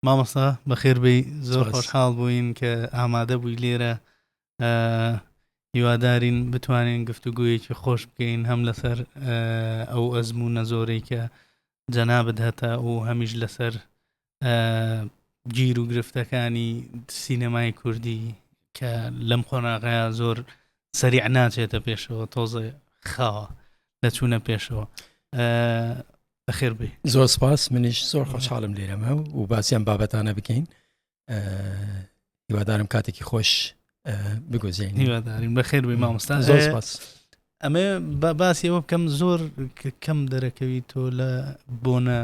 مامۆستا بەخێر بی زۆر خۆشحاڵ بووین کە ئامادە بووی لێرە هیوادارین بتوانین گفتوگویەکی خۆش بکەین هەم لەسەر ئەو ئەزم و نەزۆرەی کە جەنا بدهتە و هەمیش لەسەر گیر و گرفتەکانی سینەمای کوردی کە لەم قۆناغەیە زۆر سەریع ناچێتە پێشەوە تۆزە خاوە لە چوونە پێشەوە بەخێر بێ زۆر سپاس منیش زۆر خۆشحاڵم لێرەمە و باسییان بابەتانە بکەین هیوادارم کاتێکی خۆش بگوزین هیوادارین بەخێر بێ مامۆستا زۆر سپاس ئەمە بە باسی ئەوە بکەم زۆر کەم دەرەکەوی تۆ لە بۆنە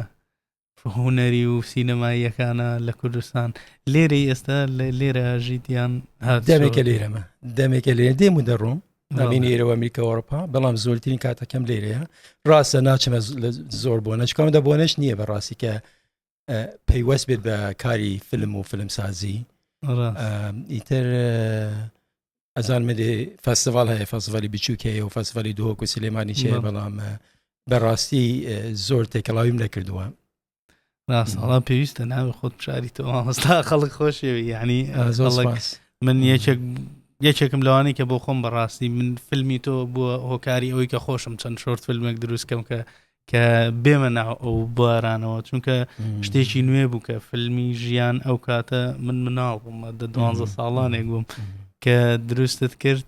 هوەری و سینەماییەکانە لە کوردستان لێرە ئێستا لێرە ژیتیان دەمێکە لێرەمە دەمێکە لێ دێم و دەڕۆم نامینێرەوە میکە ئەوروپا بەڵام زۆرترین کاتەکەم لێرەیە ڕاستە ناچمە زۆر بۆ نەچکم دە بۆنەش نییە بە ڕاستی کە پەیوەست بێت بە کاری فلم و فلمسازی ئیتر ئەزان مدێ فەستڤال هەیە فەسڤلی بچووک هەیە و فەسڤلی دۆک و سلێمانی چێ بەڵام بەڕاستی زۆر تێکەڵاویم نەکردووە ڕاستڵا پێویستە ناوی خۆت بشاری تۆ مامۆستا خەڵک خۆشێوی یعنی من یەکێک یەکێکم لەوانی کە بۆ خۆم بەڕاستی من فیلمی تۆ بووە هۆکاری ئەوی کە خۆشم چەند شۆرت فیلمێک دروستکەم کە کە بێمە ناو ئەو بارانەوە چونکە شتێکی نوێ بوو کە فیلمی ژیان ئەو کاتە من مناڵ بوومە دە دوانزە ساڵانێک بووم کە دروستت کرد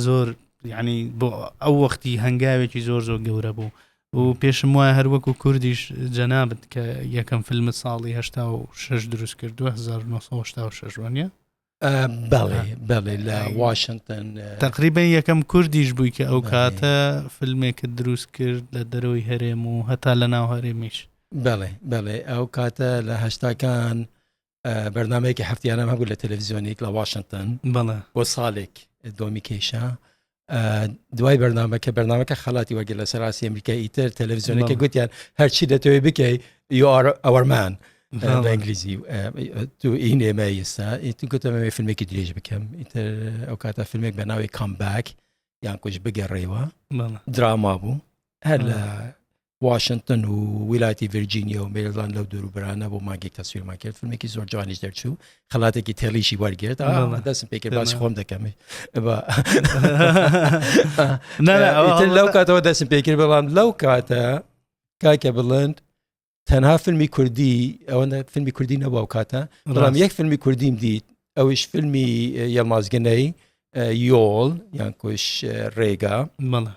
زۆر ینی بۆ ئەو وەختی هەنگاوێکی زۆر زۆر گەورە بوو و پێشم وایە هەر وەکو کوردیش جەنابت کە یەکەم فیلم ساڵی هشتا و شش دروست کردووە 1996 وانە بەڵێ بەڵێ لە واشنگتن تقریبن یەکەم کوردیش بووی کە ئەو کاتە فیلمێکە دروست کرد لە دەرەوەی هەرێم و هەتا لە ناو هەرێمیش بەڵێ بەڵێ ئەو کاتە لە هەشتاکان بەرنمەیەکی هەفتیانم هەبوو لە تەلەڤزیۆنێک لە واشنگتن بەڵە بۆ ساڵێک دۆمی کێشە دوای بەرنمەکە بەرنمەکە خەڵاتی وەگەر لە سەراسی ئەمریکا ئیتر تەلەڤزیۆنەکە گوتیان هەرچی دەتەوەی بکەیت یار ئەوەرمان. بە ئینگلیزی تو این ئێمە ئێستا ئیتون گوتەمەوێ فیلمێکی درێژ بکەم ئیتر ئەو کاتە فیلمێک بە ناوی کامباک یان کوش بگەڕێەوە دراما بوو هەر لە واشنتن و ویلایەتی ڤرجینیا و مێرلان لەو دوور و برانە بۆ ماگێک تەسویرمان کرد فیلمێکی زۆر جوانیش دەرچوو خەڵاتێکی تێڵیشی وەرگرت دەستم پێکە باسی خۆم دەکەمێ لەو کاتەوە دەستم پێکرد بەڵام لەو کاتە کاکە بڵند تەنها فیلمی کوردی ئەوەندە فیلمی کوردی نەبوو کاتە بەڵام یەک فیلمی کوردیم دیت ئەویش فیلمی یەڵماز گنەی یۆڵ یان کۆش ڕێگا مەڵە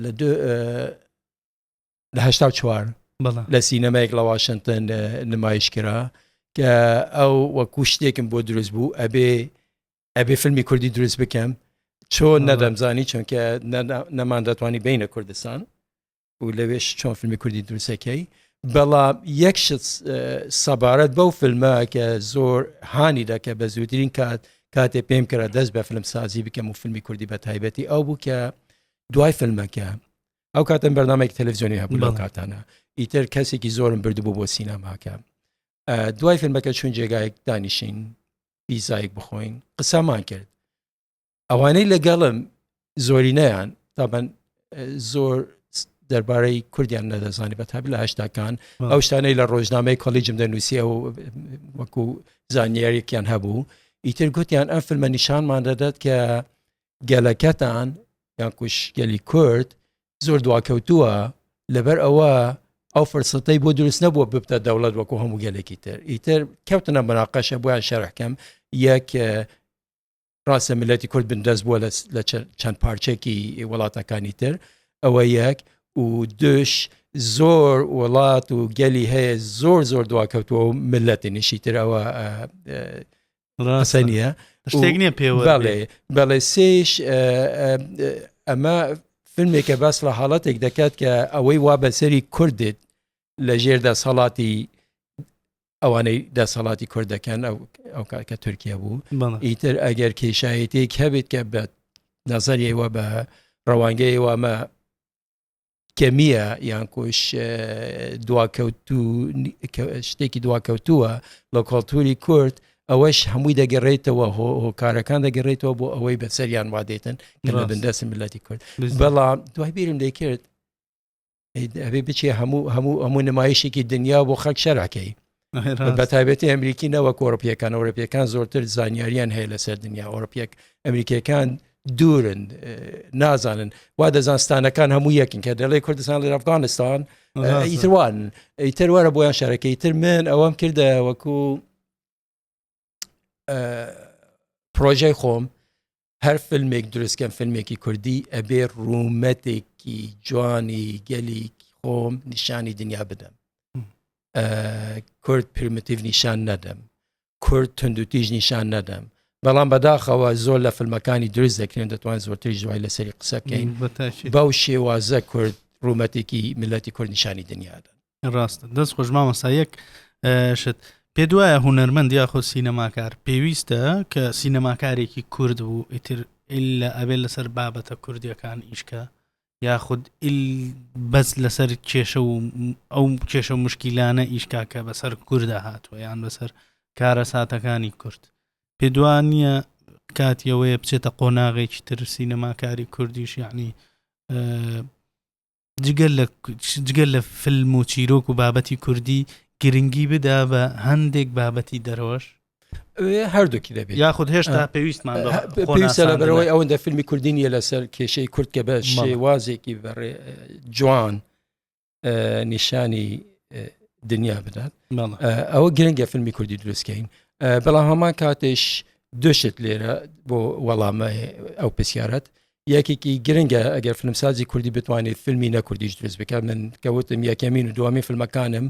لە لە هشتا چوار لە سینەمایەک لە واشنگتن نمایش کرا کە ئەو وەکو شتێکم بۆ دروست بوو ئەبێ ئەبێ فیلمی کوردی دروست بکەم چۆن نەدەمزانی چونکە نەمان دەتوانانی بینە کوردستان و لەوێش چۆن فیلمی کوردی دروستەکەی بەڵام یەک شت سەبارەت بەو فیلمە کە زۆر هانی دەکە بە زووترین کات کاتێ پێم کرا دەست بە فیلم سازی بکەم و فیلمی کوردی بە تایبەتی ئەو بوو کە دوای فیلمەکە ئەو کاتم بەرنمێک تەلەڤزیۆنی هەبوو لەو کاتانە ئیتر کەسێکی زۆرم بردبوو بۆ سینەماکە دوای فیلمەکە چون جێگایەک دانیشین پیزایک بخۆین قسەمان کرد ئەوانەی لەگەڵم زۆرینەیان تابەن زۆر دەربارەی کوردیان نەدەزانانی بە تاب لە هشتاکان ئەو شتانەی لە ڕۆژنامەی کۆلیجم دەنووسی ئەو وەکو زانیارێکیان هەبوو ئیتر گوتیان ئەم فیلمە نیشانمان دەدات کە گەلەکەتان یان کوشگەلی کورد زۆر دواکەوتووە لەبەر ئەوە ئەو فرسەتەی بۆ دروست نەبووە ببتە دەوڵەت وەکو هەموو گەلێکی تر ئیتر کەوتنە مراقەشە بۆیان شەرحکەم یەک ڕاستە ملەتی کورد بندەست بووە لە چەند پارچێکی وڵاتەکانی تر ئەوە یەک و دوش زۆر وڵات و گەلی هەیە زۆر زۆر دواکەوتووە و ملەتی نشی ترەوە ڕاستە نیە شتێک نیە پێ بەڵێ سێش ئەمە فیلمێکە باس لە حاڵەتێک دەکات کە ئەوەی وا بەسەری کوردێت لە ژێر دەسەڵاتی ئەوانەی دەسەڵاتی کورد دەکەن ئەو ئەو کاکە تورکیا بوو ئیتر ئەگەر کێشایەتێک هەبێت کە بە نەزەریەوە بە ڕەوانگەی وامە کەمیە یان کۆش دواکەوتو شتێکی دواکەوتووە لە کۆلتوری کورد ئەوەش هەمووی دەگەڕێتەوە هۆکارەکان دەگەڕێتەوە بۆ ئەوەی بەسەریان وادێتن کە بە بندەسم ملەتی کورد بەڵام دوای بیرم دەکرد ئەبێ بچێ هەموو هەموو هەموو نمایشێکی دنیا بۆ خەک شەرعکەی بە تایبەتی ئەمریکی نەوە کۆرپیەکان ئەوروپیەکان زۆرتر زانیاریان هەیە لەسەر دنیا ئەوروپیەک ئەمریکیەکان دوورن نازانن وا دەزانستانەکان هەموو یەکن کە دەڵێ کوردستان لە ئەفغانستان ئیتروان ئیتر وارە بۆیان شارەکەی تر من ئەوەم کردە وەکو پرۆژەی خۆم هەر فیلمێک دروستکەم فیلمێکی کوردی ئەبێ ڕوومەتێکی جوانی گەلی خۆم نیشانی دنیا بدەم کورد پرمتیڤ نیشان نەدەم کورد تونندوتیژ نیشان نەدەم بەڵام بەداخەوە زۆر لە فیلمەکانی دروست دەکرێن دەتوان زۆرتر جوای لەسەری قسەکەین بەو شێوازە کورد ڕوومەتێکی میلەتی کورد نیشانی دنیادەن ڕاست دەست خۆش مامەسا یەک شت پێ دوایە هوەرمەند یاخۆ سینەماکار پێویستە کە سینەماکارێکی کورد بوو ئیتر لە ئەبێت لەسەر بابەتە کوردیەکان ئیشکە یاخود بەس لەسەر کێشە و ئەو کێشە مشکیلانە ئیشکاکە بەسەر کووردا هاتووە یان بەسەر کارە ساتەکانی کورد پێ دوان نییە کاتیەوەیە بچێتە قۆناغێکی تر سینەماکاری کوردیش یعنی جگە لە فلم و چیرۆک و بابەتی کوردی گرنگی بدا بە هەندێک بابەتی دەرەوەش هەردووکی دەبێت یاخود هێشتا پێویستمان پێویستە لە بەرەوەی ئەوەندە فیلمی کوردی نیە لەسەر کێشەی کورد کە بە شێوازێکی بەڕێ جوان نیشانی دنیا بدات ئەوە گرنگە فیلمی کوردی دروستکەین بەڵام هەمان کاتێش دوشت لێرە بۆ وەڵامە ئەو پرسیارەت یەکێکی گرنگە ئەگەر فیلمسازی کوردی بتوانێت فیلمی نەکردیش دروست بکە من کەوتم یەکەمین و دومی فیلمەکانم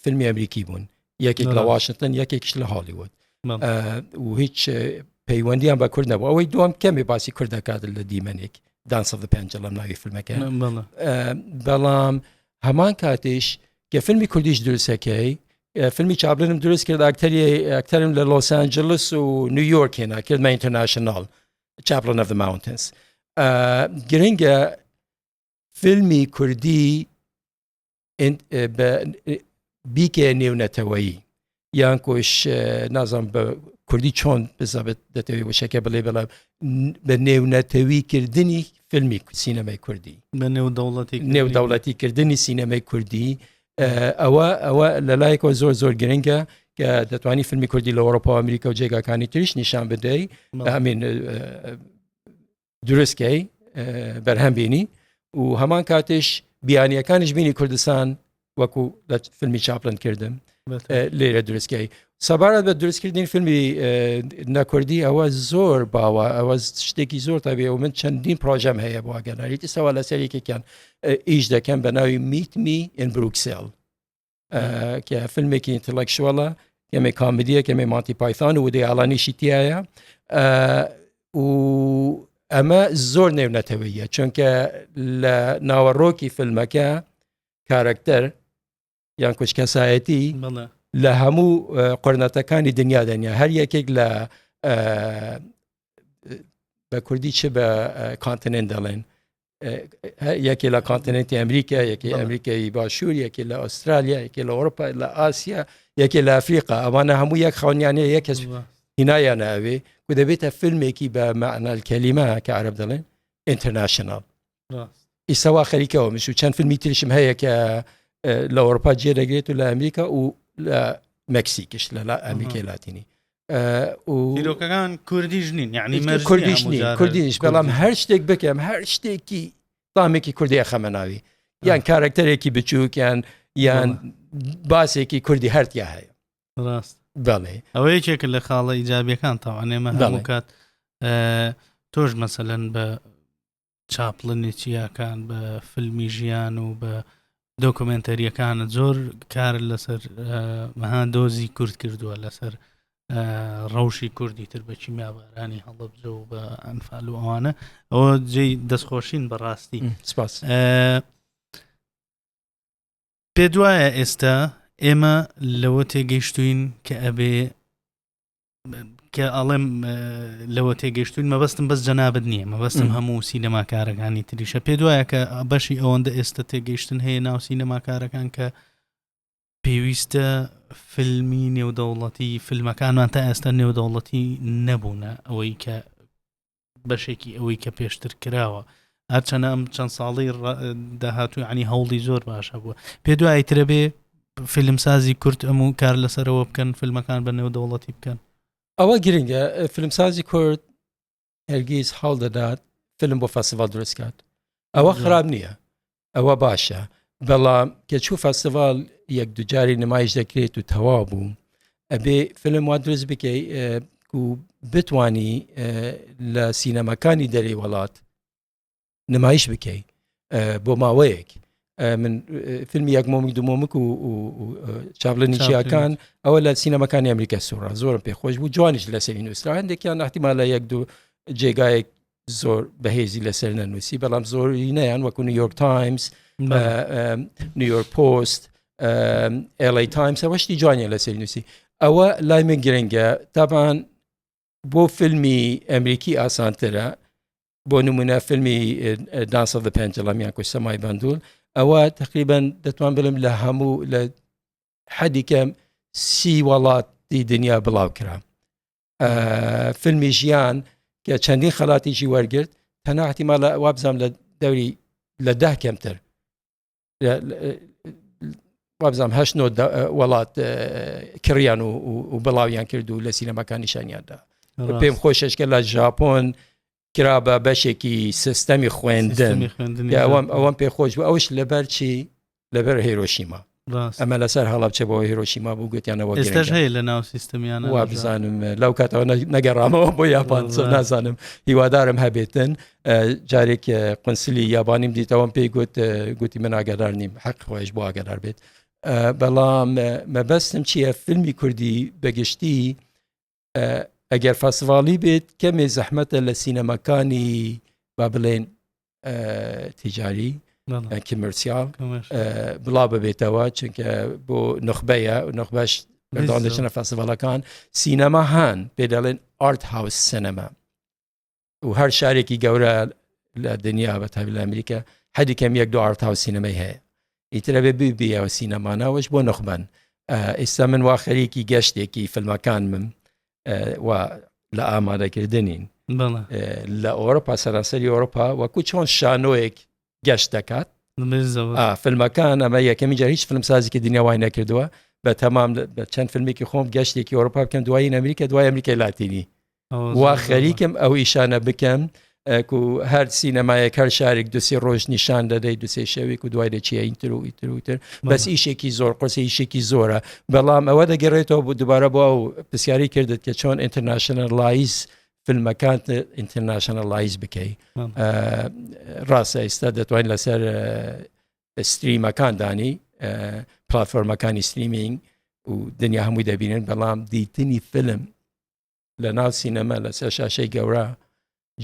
فیلمی ئەمریکی بوون یەکێک لە واشنگتن یەکێکش لە هالیوود و هیچ پەیوەندیان بە کورد نەبوو ئەوەی دوم کەمێ باسی کورد دەکات لە دیمەنێک دانسە پێنج لەم ناوی فیلمەکە بەڵام هەمان کاتیش کە فیلمی کوردیش دروستەکەی فیلمی چابلنم دروست کرد ئاکتەری ئەکتەرم لە لۆسانجلس و نیویۆرک هێنا کرد مە ئینتەرناشنال چاپلۆن ئەف ماونتنس گرنگە فیلمی کوردی بیکێ نێونەتەوەیی یان کۆش نازانم بە کوردی چۆن بزانبێت دەتەوێت وشەکە بڵێ بەڵام بە نێونەتەوی کردنی فیلمی سینەمای کوردی بە نێودەوڵەتی نێودەوڵەتی کردنی سینەمای کوردی ئەوە ئەوە لە لایەکەوە زۆر زۆر گرنگە کە دەتوانانی فیلمی کوردی لە ئەوروپا ئەمریکا و جێگاکانی تریش نیشان بدەی ئەمین درستکەی بەرهەم بینی و هەمان کاتش بیانیەکانش بینی کوردستان وەکو لە فیلمی چاپلن کردم لێرە درستکەی سەبارەت بە دروستکردنی فیلمی نەکردی ئەوە زۆر باوە ئەوە شتێکی زۆر تابێ و من چەندین پرۆژەم هەیە بۆ گەناریت ئسەوە لە سەرێکێکیان ئیش دەکەم بە ناوی میتمی ئینبروکسێل کە فیلمێکی ئینتەلەکشوەڵە کەمێ کامدیە کەمێ ماتی پایتان و دەیاڵانیشی تایە و ئەمە زۆر نێونەتەوەیە چونکە لە ناوەڕۆکی فیلمەکە کارەکتەر یان کوچ کەسایەتی لە هەموو قۆرنەتەکانی دنیا دەنیا هەر یەکێک لە بە کوردی چ بە کانتنێن دەڵێن یەکێ لە کانتنێتی ئەمریکا یەکی ئەمریکایی باشوور یەکێ لە ئوسترالیا یەکێ لە ئەوروپا لە ئاسیا یەکێ لە ئەفریقا ئەوانە هەموو یەک خاونیانە یەک کەس هینایان ناوێ و دەبێتە فیلمێکی بە مەعنال کەلیمە کە عرب دەڵێن ئینتەرناشنال ئیسەوا خەریکەوە مش و چەند فیلمی تریشم هەیە کە لە ئەوروپا جێ دەگرێت و لە ئەمریکا و لە مەکسیکش لە ئەمریکای لاتینی دیرۆکەکان کوردیش نین یعنی کوردیش نین کوردیش بەڵام هەر شتێک بکەم هەر شتێکی تامێکی کوردی خەمە ناوی یان کارکتەرێکی بچووکیان یان باسێکی کوردی هەرتیا هەیە ڕاست بەڵێ ئەوە یەکێک لە خاڵە ئیجابیەکان تاوانێمە هەموو کات تۆش مەسەلەن بە چاپلنێکی یاکان بە فیلمی ژیان و بە دۆکمنتەریەکانە زۆر کار لەسەر مەها دۆزی کورد کردووە لەسەر ڕەوشی کوردی تر بە کیمیابارانی هەڵبجە و بە ئەنفال و ئەوانە ئەوە جێ دەستخۆشین بەڕاستی سپاس پێ دوایە ئێستا ئێمە لەوە تێگەیشتوین کە ئەبێ کە ئاڵێم لەوە تێگەشتون مەبەستم بەس جەنابەت نییە مەبەستم هەموو سینەماکارەکانی تریشە پێ دوایە کە بەشی ئەوەندە ئێستا تێگەیشتن هەیە ناو سینەماکارەکان کە پێویستە فیلمی نێودەوڵەتی فیلمەکانمان تا ئێستا نێودەوڵەتی نەبوونە ئەوەی کە بەشێکی ئەوەی کە پێشتر کراوە هەرچەنە ئەم چەند ساڵی داهاتوو عنی هەوڵی زۆر باش هەبووە پێ دوایی ترە بێ فیلمسازی کورت ئەم و کار لەسەرەوە بکەن فیلمەکان بە نێو دەوڵەتی بکەن ئەوە گرنگە فیلمسازی کورد هەرگیز هەڵ دەدات فیلم بۆ فەسڤال دروستکات ئەوە خراپ نییە ئەوە باشە بەڵام کە چوو فەستیڤال یەک دوجاری نمایش دەکرێت و تەوا بوو ئەبێ فلم وا دروست بکەی و بتانی لە سینەمەکانی دەری وڵات نمایش بکەی بۆ ماوەیەک من فیلمی یەک مۆمک دومۆمک و چاپلە نیچیەکان ئەوە لە سینەمەکانی ئەمریکا سوڕا زۆرم پێ خۆش بوو جوانیش لە سەری نووسرا هەندێکیان احتیمال لە یەک دوو جێگایەک زۆر بەهێزی لەسەر نەنووسی بەڵام زۆرینەیان وەکو نیویۆرک تایمز نیویۆرک پۆست ئێڵی تایمس ئەوە شتی جوانیان لەسەر نووسی ئەوە لای من گرنگە تاپان بۆ فیلمی ئەمریکی ئاسانترە بۆ نمونە فیلمی دانسە بە پێنجڵامیان کو سەمای بندول ئەوە تقریبان دەتوان بلم لە هەموو لە حەدیکەم سی وڵاتی دنیا بڵاو کرا فیلمی ژیان کە چەندین خەڵاتیشی وەرگرت تەنها احتیمالە وابزانام لە دەوری لە ده کەمتر وابزانام هەشت وڵات کڕیان و بڵاویان کرد و لە سینەماکان نیشانیاندا پێم خۆششکە لە ژاپۆن کرا بە بەشێکی سیستەمی خوێندن ئەوەم پێ خۆش بوو ئەوش لەبەر چی لەبەر هێرۆشیما ئەمە لەسەر هەڵبچە بۆ هێرۆشیما بوو گوتیانەوە ئێستاش هەیە لە ناو سیستمیان وا بزانم لەو کاتەوە نەگەڕامەوە بۆ یاپان نازانم هیوادارم هەبێتن جارێک قنسلی یابانیم دیتەوەم پێی گوت گوتی من ئاگەدار نیم حەق خۆش بۆ ئاگەدار بێت بەڵام مەبەستم چییە فیلمی کوردی بەگشتی ئەگەر فەسڤاڵی بێت کەمێ زەحمەتە لە سینەماکانی با بڵێن تیجاری کیمرسیال بڵا ببێتەوە چونکە بۆ نخبەیە نخبەش مردان دەچنە فەسڤڵەکان سینەما هەن پێ دەڵێن ئارت هاوس سینەما و هەر شارێکی گەورە لە دنیا بە تاوی لە ئەمریکا حەدی کەم یەک دو ئارتاو سینەمەی هەیە ئیترە بێ ببیەوە سینەمانەوەش بۆ نخبەن ئێستا من وا خەریکی گەشتێکی فیلمەکان من و لە ئامادەکردنین لە ئەوروپا سەرانسەری ئەوروپا وەکو چۆن شانۆیەک گەشت دەکات فیلمەکان ئەمە یەکەمی جار هیچ فیلمسازیکی دنیاوای نەکردووە بە تەمام چەند فیلمێکی خۆم گەشتێکی ئەوروپا بکەن دوایی ئەمریکا دوای ئەمریکای لاتینی وا خەریکم ئەو ئیشانە بکەم ئەکو هەر سینەمایەک هەر شارێک دوسی ڕۆژ نیشان دەدەی دوسێ شەوێک و دوای دەچی ئەینتر و ئیتروتر بەس ئیشێکی زۆر قرسە ئیشێکی زۆرە بەڵام ئەوە دەگەڕێتەوە بۆ دووبارە بۆ ئەو پرسیاری کردت کە چۆن ئینتەرناشنە لایز فیلمەکانت ئینتەرناشنە لایز بکەی ڕاستە ئێستا دەتوانین لەسەر ستریمەکان دانی پلتفۆرمەکانی ستریمینگ و دنیا هەمووی دەبینن بەڵام دیتنی فیلم لەناو سینەما لەسەر شاشەی گەورە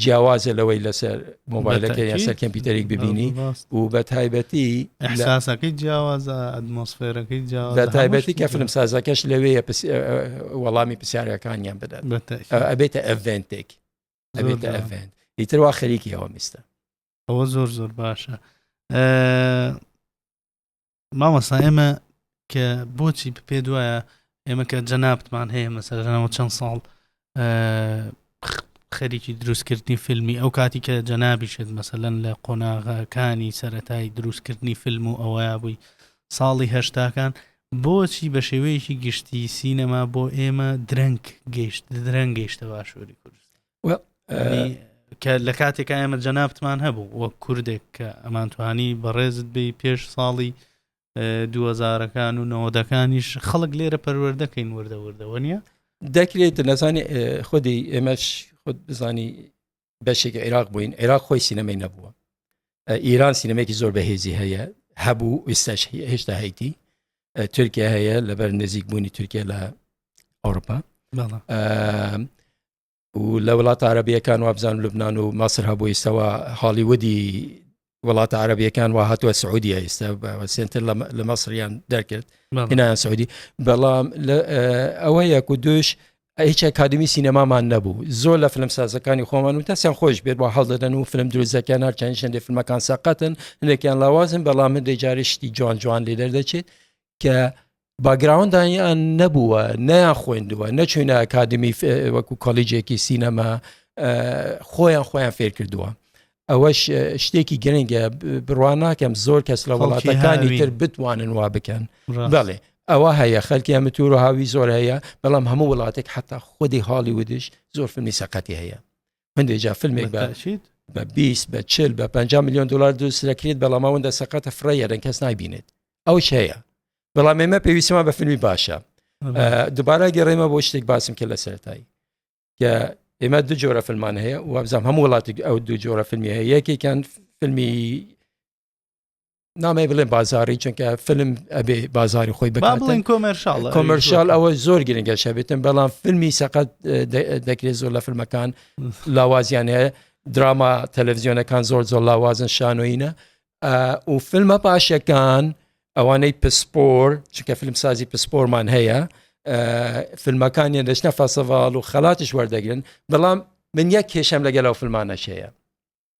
جیاوازە لەوەی لەسەر مۆبایلەکە یا سەر کەمپیوتەرێک ببینی و بە تایبەتی ئەحساسەکەی جیاوازە ئەدمۆسفێرەکەی جیاوازە بە تایبەتی کە فلم سازەکەش لەوەیە وەڵامی پرسیارەکانیان بدات ئەبێتە ئەڤێنتێک ئەبێتە ئەڤێنت ئیتر وا خەریکی ئەوە میستە ئەوە زۆر زۆر باشە مامۆستا ئێمە کە بۆچی پێ دوایە ئێمە کە جەنابتمان هەیە مەسەرەوە چەند ساڵ خەریکی دروستکردنی فیلمی ئەو کاتی کە جەنابیشێت مەسەلەن لە قۆناغەکانی سەتای دروستکردنی فیلم و ئەوەیە بووی ساڵی هەشتاکان بۆچی بە شێوەیەکی گشتی سینەما بۆ ئێمە درەنگ گەیشت درەنگ گەیشتە باشووری کوردستان کە لە کاتێکا ئێمە جەنابتمان هەبوو وەک کوردێک کە ئەمانتوانی بەڕێزت بی پێش ساڵی دووەزارەکان و نەوەدەکانیش خەڵک لێرە پەروەردەکەین وردە وردەوە نیە دەکرێت نەزانانی خودی ئێمەش خود بزانی بەشێک عێراق بووین عێراق خۆی سینەمەی نەبووە ئیران سینەمێکی زۆر بەهێزی هەیە هەبوو ئێستاش هێشتا هەیتی تورکیا هەیە لەبەر نزیک بوونی تورکیا لە ئەوروپا و لە وڵاتە عەرەبییەکان وابزانم لوبنان و مەسر هەبوو ئێستاوە هاڵیوودی وڵاتە عەرەبییەکان وە هاتووە سعودیە ئێستا سنتر لە مەسریان دەرکرد هینایان سعودی بەڵام ئەوە یەک و دوش هیچ ئەکادمی سینەمامان نەبوو زۆر لە فلم سازەکانی خۆمان و تەسیان خۆش بێت بۆ هەڵدەدەن و فلم دروزەکەیان هەر چەند شندی فلمەکان سەقەتن هەندێکیان لاوازن بەڵام من دەجارشتی جوان جوان لێ دەردەچێت کە باگراوندانیان نەبووە نەیان خوێندووە نەچوینە ئەکادمی وەکو کۆلیجێکی سینەما خۆیان خۆیان فێر کردووە ئەوەش شتێکی گرنگە بڕوان ناکەم زۆر کەس لە وڵاتەکانی تر بتوانن وا بکەن بەڵێ ئەوە هەیە خەلکی ئەمە تور و هاوی زۆر هەیە بەڵام هەموو وڵاتێک حتا خودی هاڵی ودش زۆر فنی سەقەتی هەیە هەندێک جا فیلمێک باشیت بە 20 بە چل بە 50 میلیۆن دلار دوست دەکرێت بەڵاماوەندە سەقەتە فڕێیەرن کەس نایبینێت ئەو هەیە بەڵام ئێمە پێویستمان بە فیلمی باشە دوبارە گەڕێمە بۆ شتێک باسم کرد لە سەرتایی کە ئێمە دو جۆرە فیلمان هەیە وابزانام هەموو وڵاتی ئەو دو جۆرە فیلمی هەیە یەکێکان فیلمی نامەی بڵێن بازاری چونکە فلم ئەبێ بازاری خۆی بڵێن کۆمەرشال کۆمەرشال ئەوە زۆر گرنگە شەبێتن بەڵام فیلمی سەقەت دەکرێت زۆر لە فیلمەکان لاوازیان هەیە دراما تەلەڤزیۆنەکان زۆر زۆر لاوازن شانۆینە و فیلمە پاشەکان ئەوانەی پسپۆر چکە فیلم سازی پسپۆرمان هەیە فیلمەکانیان دەشتە فەسەڤال و خەڵاتش وەردەگرن بەڵام من یەک کێشەم لەگەڵ ئەو فیلمانەشەیە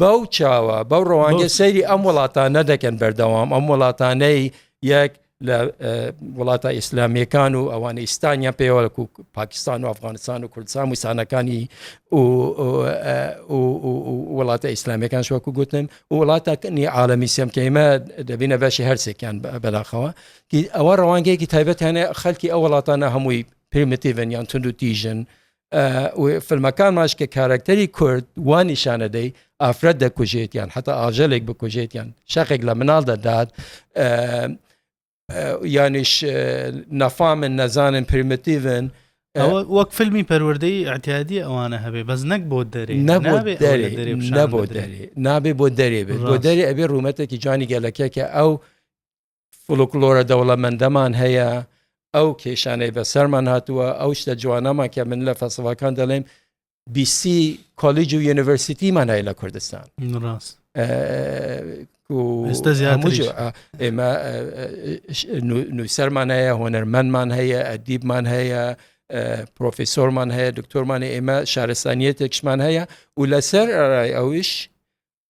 بەو چاوە بەو ڕەوانگە سەیری ئەم وڵاتانە دەکەن بەردەوام ئەم وڵاتانەی یەک لە وڵاتە ئیسلامیەکان و ئەوانە ئیستانیا پێوەک و پاکستان و ئەفغانستان و کوردستان وسانەکانی وڵاتە ئیسلامیەکان شوەکو گوتن وڵاتەکەنی عاالمی سمکەیمە دەبینە بەشی هەرسێکیان بەلاخەوە ئەوە ڕەوانگەیەکی تایبەتانە خەلکی ئەو وڵاتانە هەمووی پرمتیڤن یان تونند و تیژن فیلمەکانماش کە کارکتەری کورد وان نیشانەدەی ئافرەت دەکوژێتیان حتا ئاژەلێک بکوژێتیان شەقێک لە مناڵ دەدات یانیش نەفامن نەزانن پرمتیڤن وەک فیلمی پەروەردەی ئەتیادی ئەوانە هەبێ بەس نەک بۆ دەرێ نەبوو دەرێ نەبوو دەرێ نابێ بۆ دەرێ بێت بۆ دەرێ ئەبێ ڕوومەتێکی جوانی گەلەکە کە ئەو فلوکلۆرە دەوڵەمەندەمان هەیە ئەو کێشانەی بەسەرمان هاتووە ئەو شتە جوانەمان کە من لە فەسڵەکان دەڵێم بیسی کۆلیج و یونیڤرسیتیمان هەیە لە کوردستان ڕاست ئێمە نووسەرمان هەیە هۆنەرمەندمان هەیە ئەدیبمان هەیە پرۆفیسۆرمان هەیە دکتۆرمانی ئێمە شارستانیەتێکشمان هەیە و لەسەر ئەویش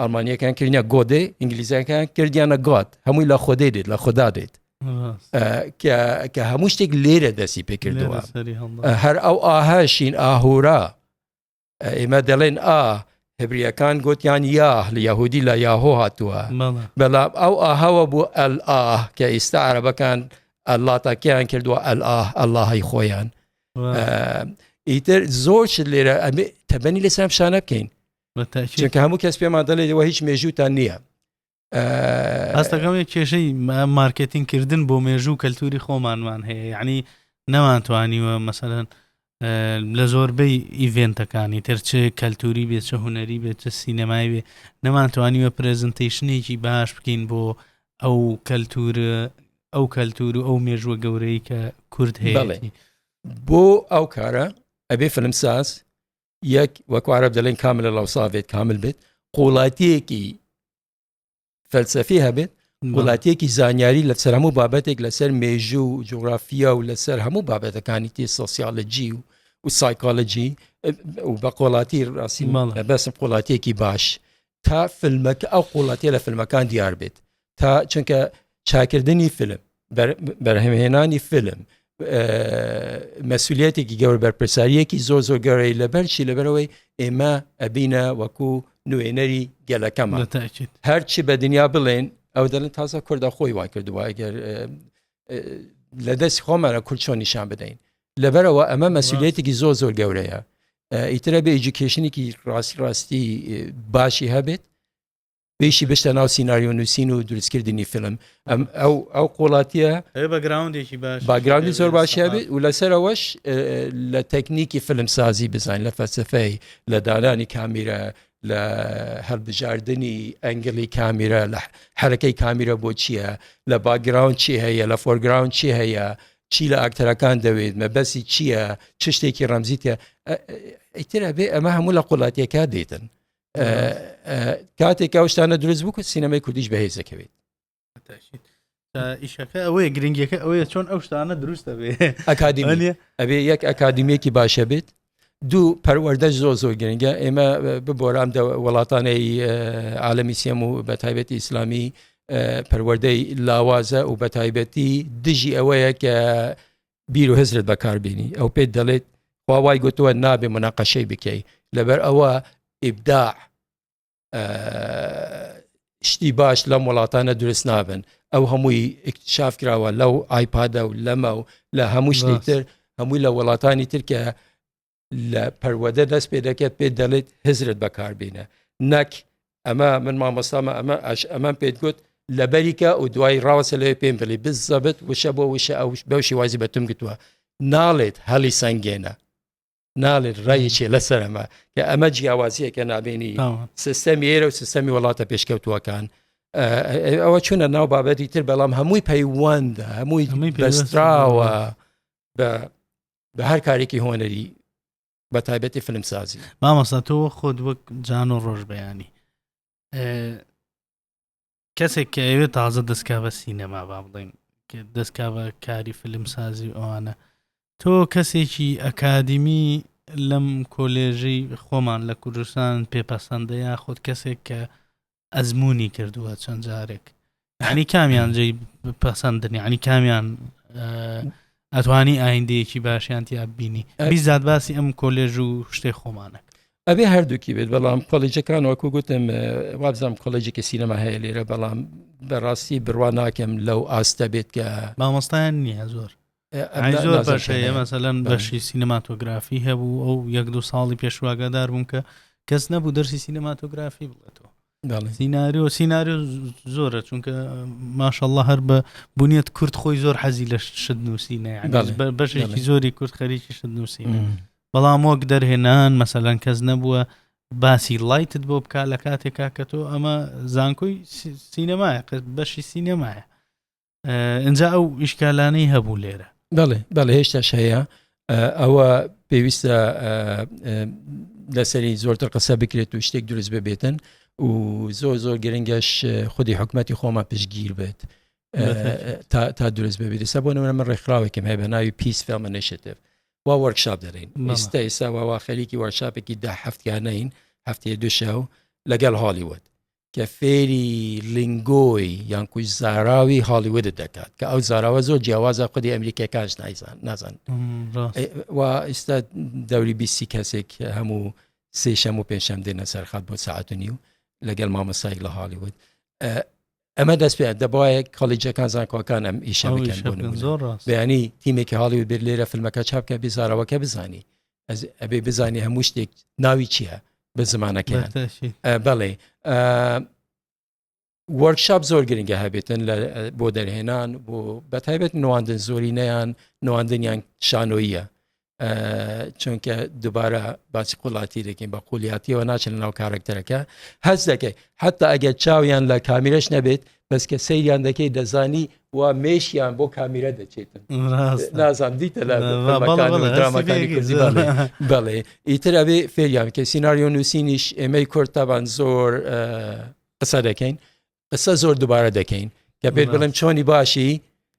ئەڵمانیەکان کردە گۆدێ ئینگلیزەکان کردیانە گات هەمووی لە خۆدەی دێت لە خۆدا دێت کە هەموو شتێک لێرە دەستی پێکردەوە هەر ئەو ئاهشین ئاهورا ئێمە دەڵێن ئا هبریەکان گوتیان یاه لە یهودی لە یاهۆ هاتووە بەڵام ئەو ئاهەوە بوو ئەل ئاه کە ئێستا عربەکان ئەللا تاکیان کردووە ئەل ئاه ئەلهی خۆیان ئیتر زۆر لێرە ئەمێ تەبەنی لەسەر شانە بکەین چونکە هەموو کەس پێمان دەڵێت ئەوە هیچ مێژووتان نییە ئاستەکەم کێشەی مارکتین کردن بۆ مێژوو کەلتوری خۆمانمان هەیە یعنی نەمانتوانیوە مەسەرەن لە زۆربەی ئیڤێنتەکانی ترچێ کەلتوری بێت چە هوەری بێت چە سینەمای بێ نەمانتوانیوە پرێزنتیشنێکی باش بکەین بۆ ئەو کەلتور ئەو کەلتور و ئەو مێژووە گەورەی کە کورد هەیە بۆ ئەو کارە ئەبێ فلمساز یەک وەکوارەب دەڵێن کامل لە لاوساێت کامل بێت قوڵاتیەکی فەلسەفی هەبێت وڵاتیەکی زانیاری لە سەر هەموو بابەتێک لەسەر مێژوو و جوگرافیا و لەسەر هەموو بابەتەکانی تی سۆسیالجی و و سایکۆلجی و بە قۆڵاتی ڕاستی ماڵ بەسم قوڵاتیەکی باش تا فیلمەکە ئەو قوڵەتێ لە فیلمەکان دیار بێت تا چونکە چاکردنی فیلم بەرهەمهێنانی فیلم مەسوولەتێکی گەور بەرپرساریەکی زۆر زۆر گەورەی لەبەرشی لەبەرەوەی ئێمە ئەبینە وەکو نوێنەری گەلەکەمان هەرچی بە دنیا بڵێن ئەو دەلن تازە کوردە خۆی وای کردووە ئەگەر لە دەست خۆمانە کورچۆ نیشان بدەین لەبەرەوە ئەمە مەسوولەتێکی زۆر زۆر گەورەیە ئیترە بێ ئیجوکیشنێکی ڕاستی ڕاستی باشی هەبێت پێشی بشتە ناو سینناریۆ نووسین و دروستکردنی فیلم ئەم ئەو ئەو قۆڵاتیە بەگراوندێکی باش باگراوندی زۆر باشە بێت و لەسەرەوەش لە تەکنیکی فیلم سازی بزان لە فەلسفەی لە دانانی کامیرە لە هەڵبژاردننی ئەنگلی کامیرە لە حرەکەی کامیرە بۆ چییە لە باگراوند چی هەیە لە فۆرگراوند چی هەیە چی لە ئاکتەرەکان دەوێت مەبەسی چییە چ شتێکی ڕەمزیتە ئیتر ئەبێ ئەمە هەموو لە قوڵاتیەکە دێتن کاتێکا شتانە دروست بکە سینەمای کوردیش بەهێز دەکەوێت ئیشەکە ئەوەیە گرنگەکە ئەوەیە چۆن ئەو شتانە دروستە بێ ئەکادیمانە ئەبێ یەک ئەکادیمیەکی باشە بێت دوو پەروەەردە زۆ زۆر گرنگە ئێمە ببۆرام وڵاتانەی عالمی سێم و بە تایبەتی ئیسلامی پەروەەردەی لاوازە و بە تایبەتی دژی ئەوەیە کە بیر و هزرت بەکاربیێنی ئەو پێ دەڵێت واوای گوتووە نابێ مناقەشەی بکەی لەبەر ئەوە ئیبدا شتی باش لەم وڵاتانە دروست نابن ئەو هەمووی اکتشاف کراوە لەو ئایپادە و لەمە و لە هەموو شتی تر هەمووی لە وڵاتانی ترکە لە پەروەدە دەست پێ دەکرێت پێ دەڵێت هزرت بەکاربیینە نەک ئەمە من مامۆستامە ئەمە ئەش ئەمەم پێت گوت لە بەریکە و دوای ڕاوەسە لەوێ پێم بڵی بزەبت وشە بۆ وشە ئەو بەو شێوازی بەتم گوتووە ناڵێت هەڵی سەنگێنە ناڵێت ڕایەکێ لەسەر ئەمە کە ئەمە جیاوازیەکە نابێنی سیستەمی ئێرە و سیستەمی وڵاتە پێشکەوتووەکان ئەوە چونە ناو بابەتی تر بەڵام هەمووی پەیوەندە هەمووی بەستراوە بە بە هەر کارێکی هۆنەری بە تایبەتی فلمسازی مامەسا تۆ خۆت وەک جان و ڕۆژ بەیانی کەسێک کە ئەوێ تازە دەستکاوە سینەما با بڵین دەستکاوە کاری فلم سازی و ئەوانە تۆ کەسێکی ئەکادیمی لەم کۆلێژەی خۆمان لە کوردستان پێپەسەندە یا خۆت کەسێک کە ئەزمموی کردووە چەند جارێک ینی کامیان جێ پەسەندن ینی کامیان ئەتوانی ئایندەیەکی باشیان تیا بینی بیزاد باسی ئەم کۆلێژ و شتێ خۆمانە ئەبێ هەردووکی بێت بەڵام کۆلێجەکان وەکو گوتم وابزانام کۆلێجێکی سینەما هەیە لێرە بەڵام بەڕاستی بڕوا ناکەم لەو ئاستە بێت کە مامۆستایان نییە زۆر زۆر باش هەیە مەسەلەن بەشی سینەماتۆگرافی هەبوو ئەو یەک دو ساڵی پێشواگەدار بووم کە کەس نەبوو دەرسی سینەماتۆگرافی بڵێتەوە سیناریۆ سیناریۆ زۆرە چونکە ماشەله هەر بە بنیەت کورد خۆی زۆر حەزی لە شت نووسینە بەشێکی زۆری کورد خەریکی شت نووسین بەڵام وەک دەرهێنان مەسەلەن کەس نەبووە باسی لایتت بۆ بک لە کاتێکا کە تۆ ئەمە زانکۆی سینەمایە بەشی سینەمایە ئەجا ئەو ئیشکالانەی هەبوو لێرە بەڵێ بەڵێ هێشتاش هەیە ئەوە پێویستە لەسەری زۆرتر قسە بکرێت و شتێک دروست ببێتن و زۆر زۆر گرنگەش خودی حکوومەتتی خۆمە پشگیر بێت تا دروست ببێت سە بۆ نەوە من ڕێکخراوێکم هەیە بە ناوی پیس فێمەنێشتێت وا وەرکشاپ دەرین ئستا ئێسا واوا خەریکی وەرشاپێکی ده هەفتیانەین هەفتەیە دوشە و لەگەڵ هالیوت کە فێری لنگۆی یان کوی زاراوی هالیوود دەکات کە ئەو زاراوە زۆر جیاوازە خودی ئەمریکەکانش نایزان نازان و ئیستا دەوری بیسی کەسێک هەموو سێشەم و پێشەم دێنە سەرخات بۆ ساعتنی و لەگەل مامەسایک لە هالیوود ئەمە دەست پێ دەبایە کالیجەکان زانکۆکان ئەم ئیشە بکەن بۆ بەیانی تیمێکی هاڵی و بێت لێرە فیلمەکە چاپکە بزارەوەکە بزانی ئەبێ بزانێ هەموو شتێک ناوی چییە بە زمانەکەیان بەڵێ وەرکشاپ زۆر گرنگە هەبێتن لە بۆ دەرهێنان بۆ بە تایبەت نواندن زۆری نیان نواندنیان شانۆیە چونکە دووبارە باسی قوڵاتی دەکەین بە قولیاتیەوە ناچن ناو کارکتەرەکە هەز دەکەی حتا ئەگەر چاویان لە کامیرش نەبێت بەس کە سەیریان دەکەی دەزانی وا مێشیان بۆ کامیرە دەچێتن نازان دیتە بەڵێ ئیتر ئەبێ فێریان کە سینناریۆ نووسینیش ئێمەی کورد تابان زۆر قسە دەکەین قسە زۆر دووبارە دەکەین کە پێت بڵێم چۆنی باشی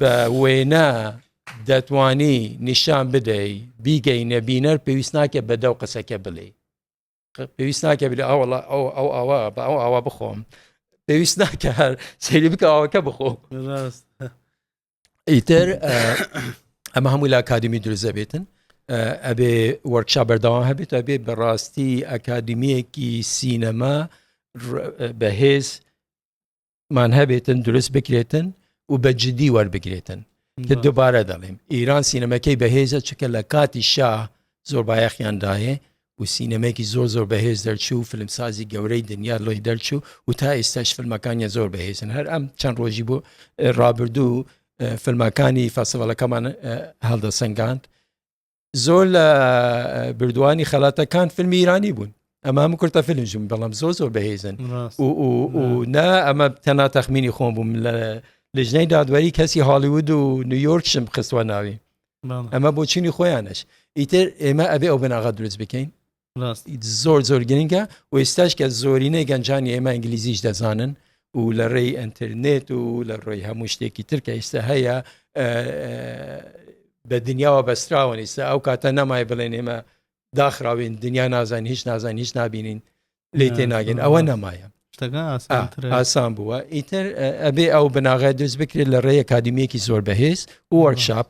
بە وێنە دەتوانی نیشان بدەی بیگەینە بینەر پێویست ناکە بە دەو قسەکە بڵێ پێویست ناکە بلێ ئاوەڵە ئەو ئەو ئاوا بە ئەو ئاوا بخۆم پێویست ناکە هەر سەیری بکە ئاوەکە بخۆ ئیتر ئەمە هەموو لە ئاکادمی دروزە بێتن ئەبێ وەرکشا بەردەوام هەبێت ئەبێ بەڕاستی ئەکادمیەکی سینەما بەهێز مان هەبێتن دروست بکرێتن و بە جددی وەربگرێتن کە دووبارە دەڵێم ئیران سینەمەکەی بەهێزە چکە لە کاتی شا زۆر بایەخیانداهێ و سینەمێکی زۆر زۆر بەهێز دەرچوو فلمسازی گەورەی دنیا لۆی دەرچوو و تا ئێستاش فلمەکانیان زۆر بەهێزن هەر ئەم چەند ڕۆژی بۆ ڕابردوو فلمەکانی فەسەوەڵەکەمان هەڵدەسەنگاند زۆر لە بردووانی خەلاتەکان فیلمی ایرانی بوون ئەمە هەموو کورتە فیلمژم بەڵام زۆ زۆر بەهێزن نا ئەمە تەنا تەخمینی خۆم بووم لە لژنەی دادوەری کەسی هالیوود و نیویۆرکشم خستوە ناوی ئەمە بۆچینی خۆیانش ئیتر ئێمە ئەبێ ئەو بناغا دروست بکەین زۆر زۆر گرنگە و ئێستاش کە زۆرینەی گەنجانی ئێمە ئینگلیزیش دەزانن و لە ڕێی ئەترنێت و لە ڕێی هەموو شتێکی ترکە ئێستا هەیە بە دنیاوە بەستراوەن ئێستا ئەو کاتە نەمای بڵێن ئێمە داخراوین دنیا نازان هیچ نازان هیچ نبینین لی تێ ناگەن ئەوە نەمایە ئاسان بووە ئیتر ئەبێ ئەو بناغای دروست بکرێت لە ڕێی کادمیەکی زۆر بەهێز وەرکشاپ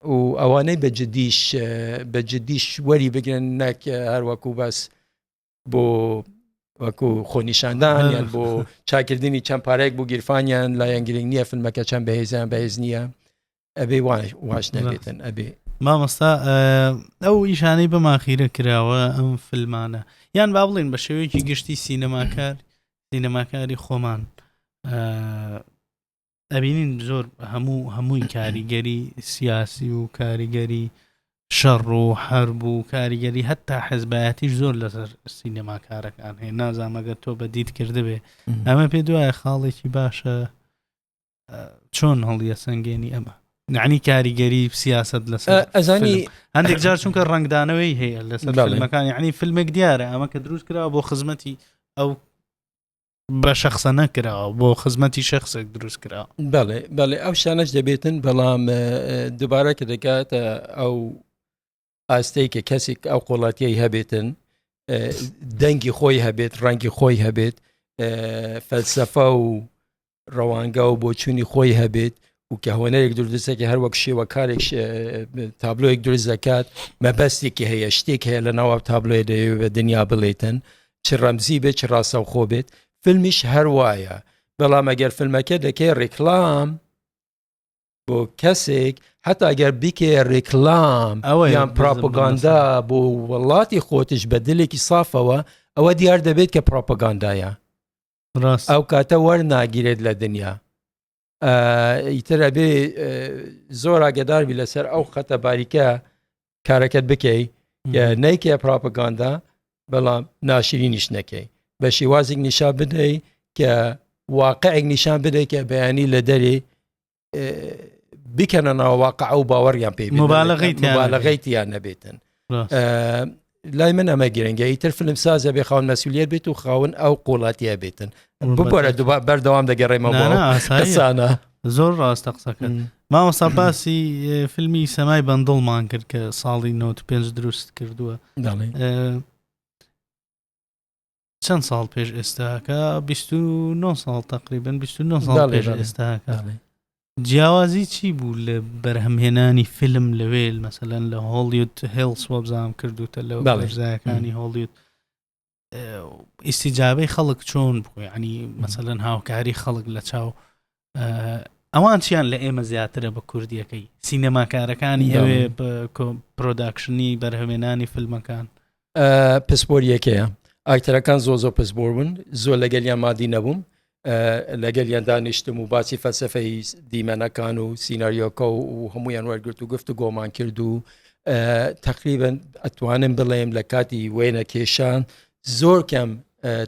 و ئەوانەی بە جدیش بە جدیش وەری بگرن نەک هەر وەکو بەس بۆ وەکو خۆنیشاندان یان بۆ چاکردنی چەند پارێک بۆ گیرفانیان لایەن گرنگ نییە فیلمەکە چەند بەهێزیان بەهێز نییە ئەبێ واش نەبێتن ئەبێ مامۆستا ئەو ئیشانەی بەماخیرە کراوە ئەم فلمانە یان با بڵین بە شێوەیەکی گشتی سینەماکار سینەماکاری خۆمان ئەبینین زۆر هەموو هەمووی کاریگەری سیاسی و کاریگەری شەڕ و حرب و کاریگەری هەتا حەزبایەتیش زۆر لەسەر سینەما کارەکان هەیە نازانمەگە تۆ بە دیت کردبێ ئەمە پێ دوایە خاڵێکی باشە چۆن هەڵیە سنگێنی ئەمە نعنی کاریگەری سیاست لەسەر ئەزانی هەندێک جار چونکە ڕنگدانەوەی هەیە لەسەر فیلمەکانی عنی فیلمێک دیارە ئەمە کە دروست کرا بۆ خزمەتی ئەو بە شخصە نەکراوە بۆ خزمەتی شخصێک دروست کرا بەڵێ بەڵێ ئەو شانەش دەبێتن بەڵام دووبارە کە دەکاتە ئەو ئاستەی کە کەسێک ئەو قۆڵاتیی هەبێتن دەنگی خۆی هەبێت ڕەنگی خۆی هەبێت فەلسەفە و ڕەوانگا و بۆچوونی خۆی هەبێت و کە هۆنەرێک دردسەکە هەر وەک شێوەکارێک تابلۆیەک دروست دەکات مەبەستێکی هەیە شتێک هەیە لە ناوە تابلۆێ دەیەوێت بە دنیا بڵێتن چ ڕەمزی بێت چ ڕاستەوخۆ بێت فیلمیش هەر وایە بەڵام ئەگەر فیلمەکە دەکەی ڕێکلام بۆ کەسێک حتا ئەگەر بیکێ ڕێکلام ئەوە یان پراپۆگاندا بۆ وڵاتی خۆتش بە دلێکی سافەوە ئەوە دیار دەبێت کە پراپۆگاندایە ئەو کاتە وەرناگیرێت لە دنیا ئیتر ئەبێ زۆر ئاگداربی لەسەر ئەو خەتە باریکە کارەکەت بکەی نیکە پراپگاندا بەڵام ناشرینیش نەکەی بە شێوازێک نیشا بدەی کە واقعێک نیشان بدەی کە بەیانی لە دەری بکەنە ناوواقع ئەو باوەڕیان پێی مبالغیتیان نەبێتن لای من ئەمە گرنگە ئیتر فلم سازە بێ خاون مەسولیت بێت و خاون ئەو قوڵاتیە بێتن ببارە دوبا بەردەوام دەگەڕێمەسانە زۆر ڕاستە قسەکە ماوەسا باسی فیلمی سەمای بەندڵمان کرد کە ساڵی 95 دروست کردووە چەند ساڵ پێش ئێستاکە بیست و نۆ ساڵ تقریبن بیست و نۆ ساڵ بەڵێ، پێش بەڵێ. ئێستاکە بەڵێ. جیاوازی چی بوو لە بەرهەمهێنانی فیلم لەوێ مەسەلەن لە هۆڵیود هێڵس وەبزانام کردوتە لە بەڵێ. وەرزایەکانی هۆڵیود ئیسیجابەی خەڵک چۆن بوو ینی مەسەلەن هاوکاری خەڵک لە چاو ئەوان چیان لە ئێمە زیاترە بە کوردیەکەی سینەماکارەکانی ئەوێ پرۆداکشنی بەرهەمێنانی فیلمەکان پسپۆریەکەیە ئاکتەرەکان زۆ زۆ پسبۆر بوون زۆر لەگەلیان مادی نەبووم لەگەل یان دانیشتم و باسی فەلسفەی دیمەنەکان و سینناریۆکە و هەمویان وەرگرت و گفت و گۆمان کرد و تقریبن ئەتوانم بڵێم لە کاتی وێنە کێشان زۆر کەم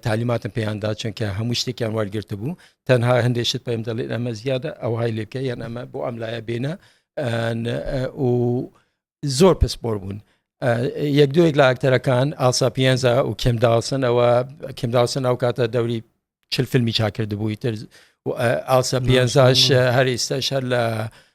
تالیماتم پێیان دا چونکە هەموو شتێکیان وەرگرت بوو تەنها هەندێک شت پێم دەڵێت ئەمە زیادە ئەوهای لێکە یان ئەمە بۆ ئەم لایە بێنە و زۆر پسپۆر بوون یەک دوێک لە ئاکتەرەکان ئاسا پێنجە و کمداوسن ئەوە کمداوسن ئەو کاتە دەوری چل فیلمی چاکرد بووی تر ئاسا پێنجش هەر ئێستا شەر لە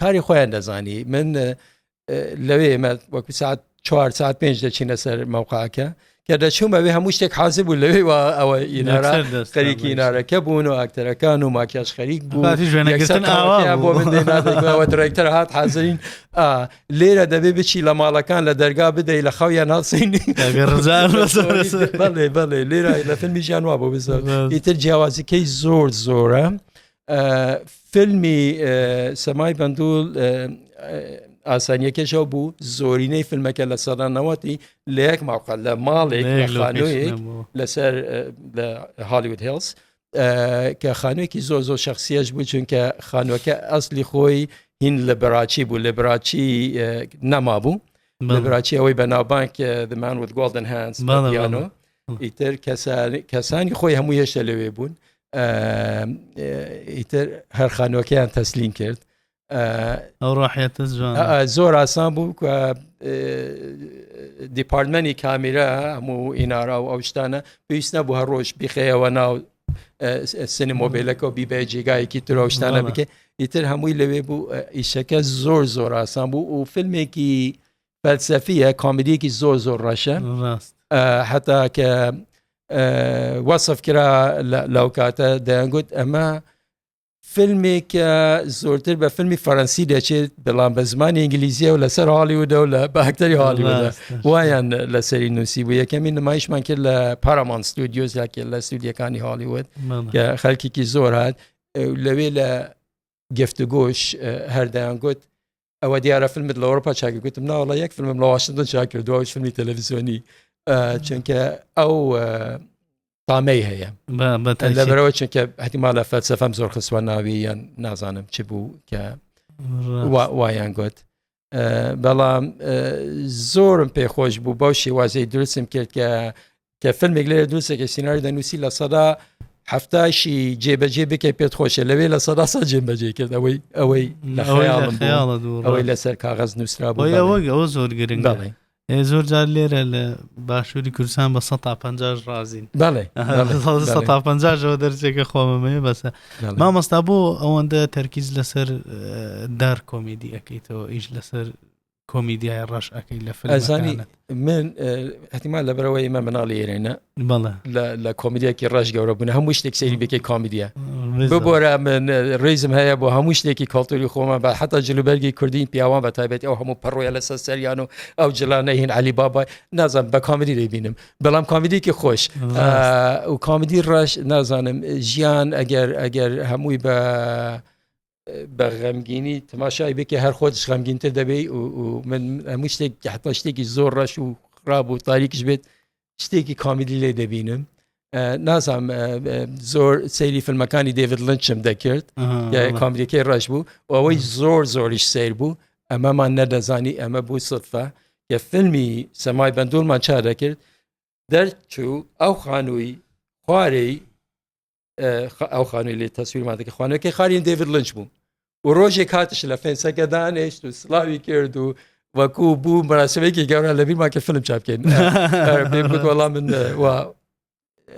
کاری خۆیان دەزانی من لەوێ ئێمە وەکو ساعت چوار ساعت پێنج دەچینە سەر مەوقعەکە کە دەچوومەوێ هەموو شتێک حازر بوو لەوێ وا ئەوە ئینارا خەریکی ئینارەکە بوون و ئاکتەرەکان و ماکیاش خەریک بوو درێکتەر هات حازرین لێرە دەبێ بچی لە ماڵەکان لە دەرگا بدەی لە خەویان ناسینی بەڵێ بەڵێ لێرە لە فیلمی ژیان وا بۆ بزە ئیتر جیاوازیکەی زۆر زۆرە فیلمی سەمای بەندول ئاسانیەکەشەو بوو زۆرینەی فیلمەکە لە سەدانەوەتی لە یەک ماوقە لە ماڵێک لەسەر هالیود هێڵس کە خانوێکی زۆر زۆر شخصیش بوو چونکە خانوەکە ئەسلی خۆی هین لە بەراچی بوو لە بەراچی نەما بوو لە بەراچی ئەوەی بە ناوبانک دەمان وت گۆڵدن هەنس ئیتر کەسانی خۆی هەموو هێشتە لەوێ بوون ئیتر هەر خانوەکەیان تەسلیم کرد ئەو ڕاحەتە زۆر ئاسان بوو دیپارتمەنی کامیرا هەموو ئینارا و ئەو شتانە پێویست نەبوو هەر ڕۆژ بخەیەوە ناو سنی مۆبیلەکە و بیبێ جێگایەکی ترۆشتانە بکە ئیتر هەمووی لەوێ بوو ئیشەکە زۆر زۆر ئاسان بوو و فیلمێکی فەلسەفیە کامیدیەکی زۆر زۆر ڕەشە حتا کە وەصف کرا لەو کاتە دەیانگوت ئەمە فیلمێکە زۆرتر بە فیلمی فەرەنسی دەچێت بەڵام بە زمانی ئینگلیزیە و لەسەر حاڵی ودا و لە باکتەری حاڵی وایان لەسەری نووسی بوو یەکەمی نمایشمان کرد لە پارامان ستودیۆز یاکە لە سوودیەکانی هالیوت کە خەلکێکی زۆر هاات لەوێ لە گفتوگۆش هەردەیان گوت ئەوە دیارە فیلمت لە ئەوروپا چاک گوتم ناوەڵە یەک فیلمم لە واشنگتن چاک کردو ئەو فیلمی تەلەڤیزیۆنی چونکە ئەو تامەی هەیە لەبەرەوە چونکە هەتیما لە فەلسەفەم زۆر خسوە ناوی یان نازانم چ بوو کە وایان گوت بەڵام زۆرم پێخۆش بوو بەو شێوازەی درستم کرد کە کە فیلمێک لێ دووسێکی سینناوی دەنووسی لە سەدا هەفتاشی جێبەجێ بکەی پێت خۆشە لەوێ لە سەدا سا جێبەجێ کرد ئەوەی ئەوەی لە خەیاڵم ئەوەی لەسەر کاغەز نووسرا بۆ ئەوەی ئەوە زۆر گرنگ بڵێ زۆر جار لێرە لە باشووری کوردستان بە 150 ڕازین بەڵێ 150ەوە دەرجێکە خۆمەمەیە بەسە مامۆستا بۆ ئەوەندە تەرکیز لەسەر دار کۆمیدی ئەەکەیتەوە ئیش لەسەر کۆمیدیای ڕەش ئەەکەی لە فلزانی من هەتیمان لە برەوەی ئمە مناڵی ئێرێنە بەڵێ لە کۆمیدیەکی ڕژ گەورە بوون هەموو شتێک سەیری بکەی کامیدیە ببۆرە من ڕێزم هەیە بۆ هەموو شتێکی کاڵتوری خۆمە بە حتا جلوبەرگی کوردین پیاوان بە تابێت ئەو هەموو پەڕۆیە لە سەر سەریان و ئەو جلانە هین علی بابای نازم بە کامیدی دەبینم بەڵام کامیدیکی خۆش و کامیدی ڕەش نازانم ژیان ئەگەر ئەگەر هەمووی بە بە غەمگینی تماشای بکە هەر خۆتش غەمگینتر دەبێ و من هەموو شتێک حتا شتێکی زۆر ڕەش و خراب و تاریکش بێت شتێکی کامیلی لێ دەبینم نازام زۆر سەیری فیلمەکانی دەیڤد لنچم دەکرد کامریکەی ڕەش بوو ئەوەی زۆر زۆریش سیر بوو ئەمەمان نەدەزانی ئەمە بوو سفە کە فیلمی سەمای بەندورمان چا دەکرد دەرچوو ئەو خانووی خوارەی ئەو خانووی لێ تەسویرمان دەکە خوانەکەی خالی دەیڤد لنج بوو و ڕۆژێک هاتش لە فێنسەکە دانێشت و سلاوی کرد و وەکو بوو مەراسمێکی گەورە لە بیرمان کە فلم چاپکەین وەڵام من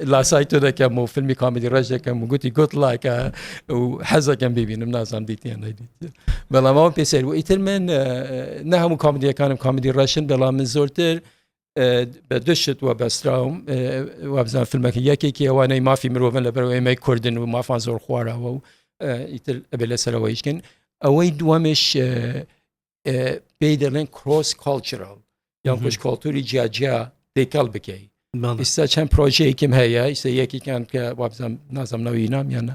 لاسای تۆ دەکەم و فیلمی کامیدی ڕێژ دەکەم و گوتی گوت لایکە و حەزەکەم ببینم نازانام دیتیان نەدیت بەڵامەوە پێسەر و ئیتر من نە هەموو کامیدیەکانم کامیدی ڕەشن بەڵام من زۆرتر بە دشت وە بەستراوم وابزان فیلمەکە یەکێکی ئەوانەی مافی مرۆڤن لە بەرەوە ئێمەی کوردن و مافان زۆر خوارەوە و ئیتر ئەبێ لەسەرەوە هیچکن ئەوەی دووەمش پێی دەڵێن کرۆس کۆلچرال یان خوش کۆلتوری جیاجیا دەیکەڵ بکەی ئیستا چەند پرۆژەیەکیم هەیە ئیستا یەکیکان کە وابزان نازم ناوی نامیانە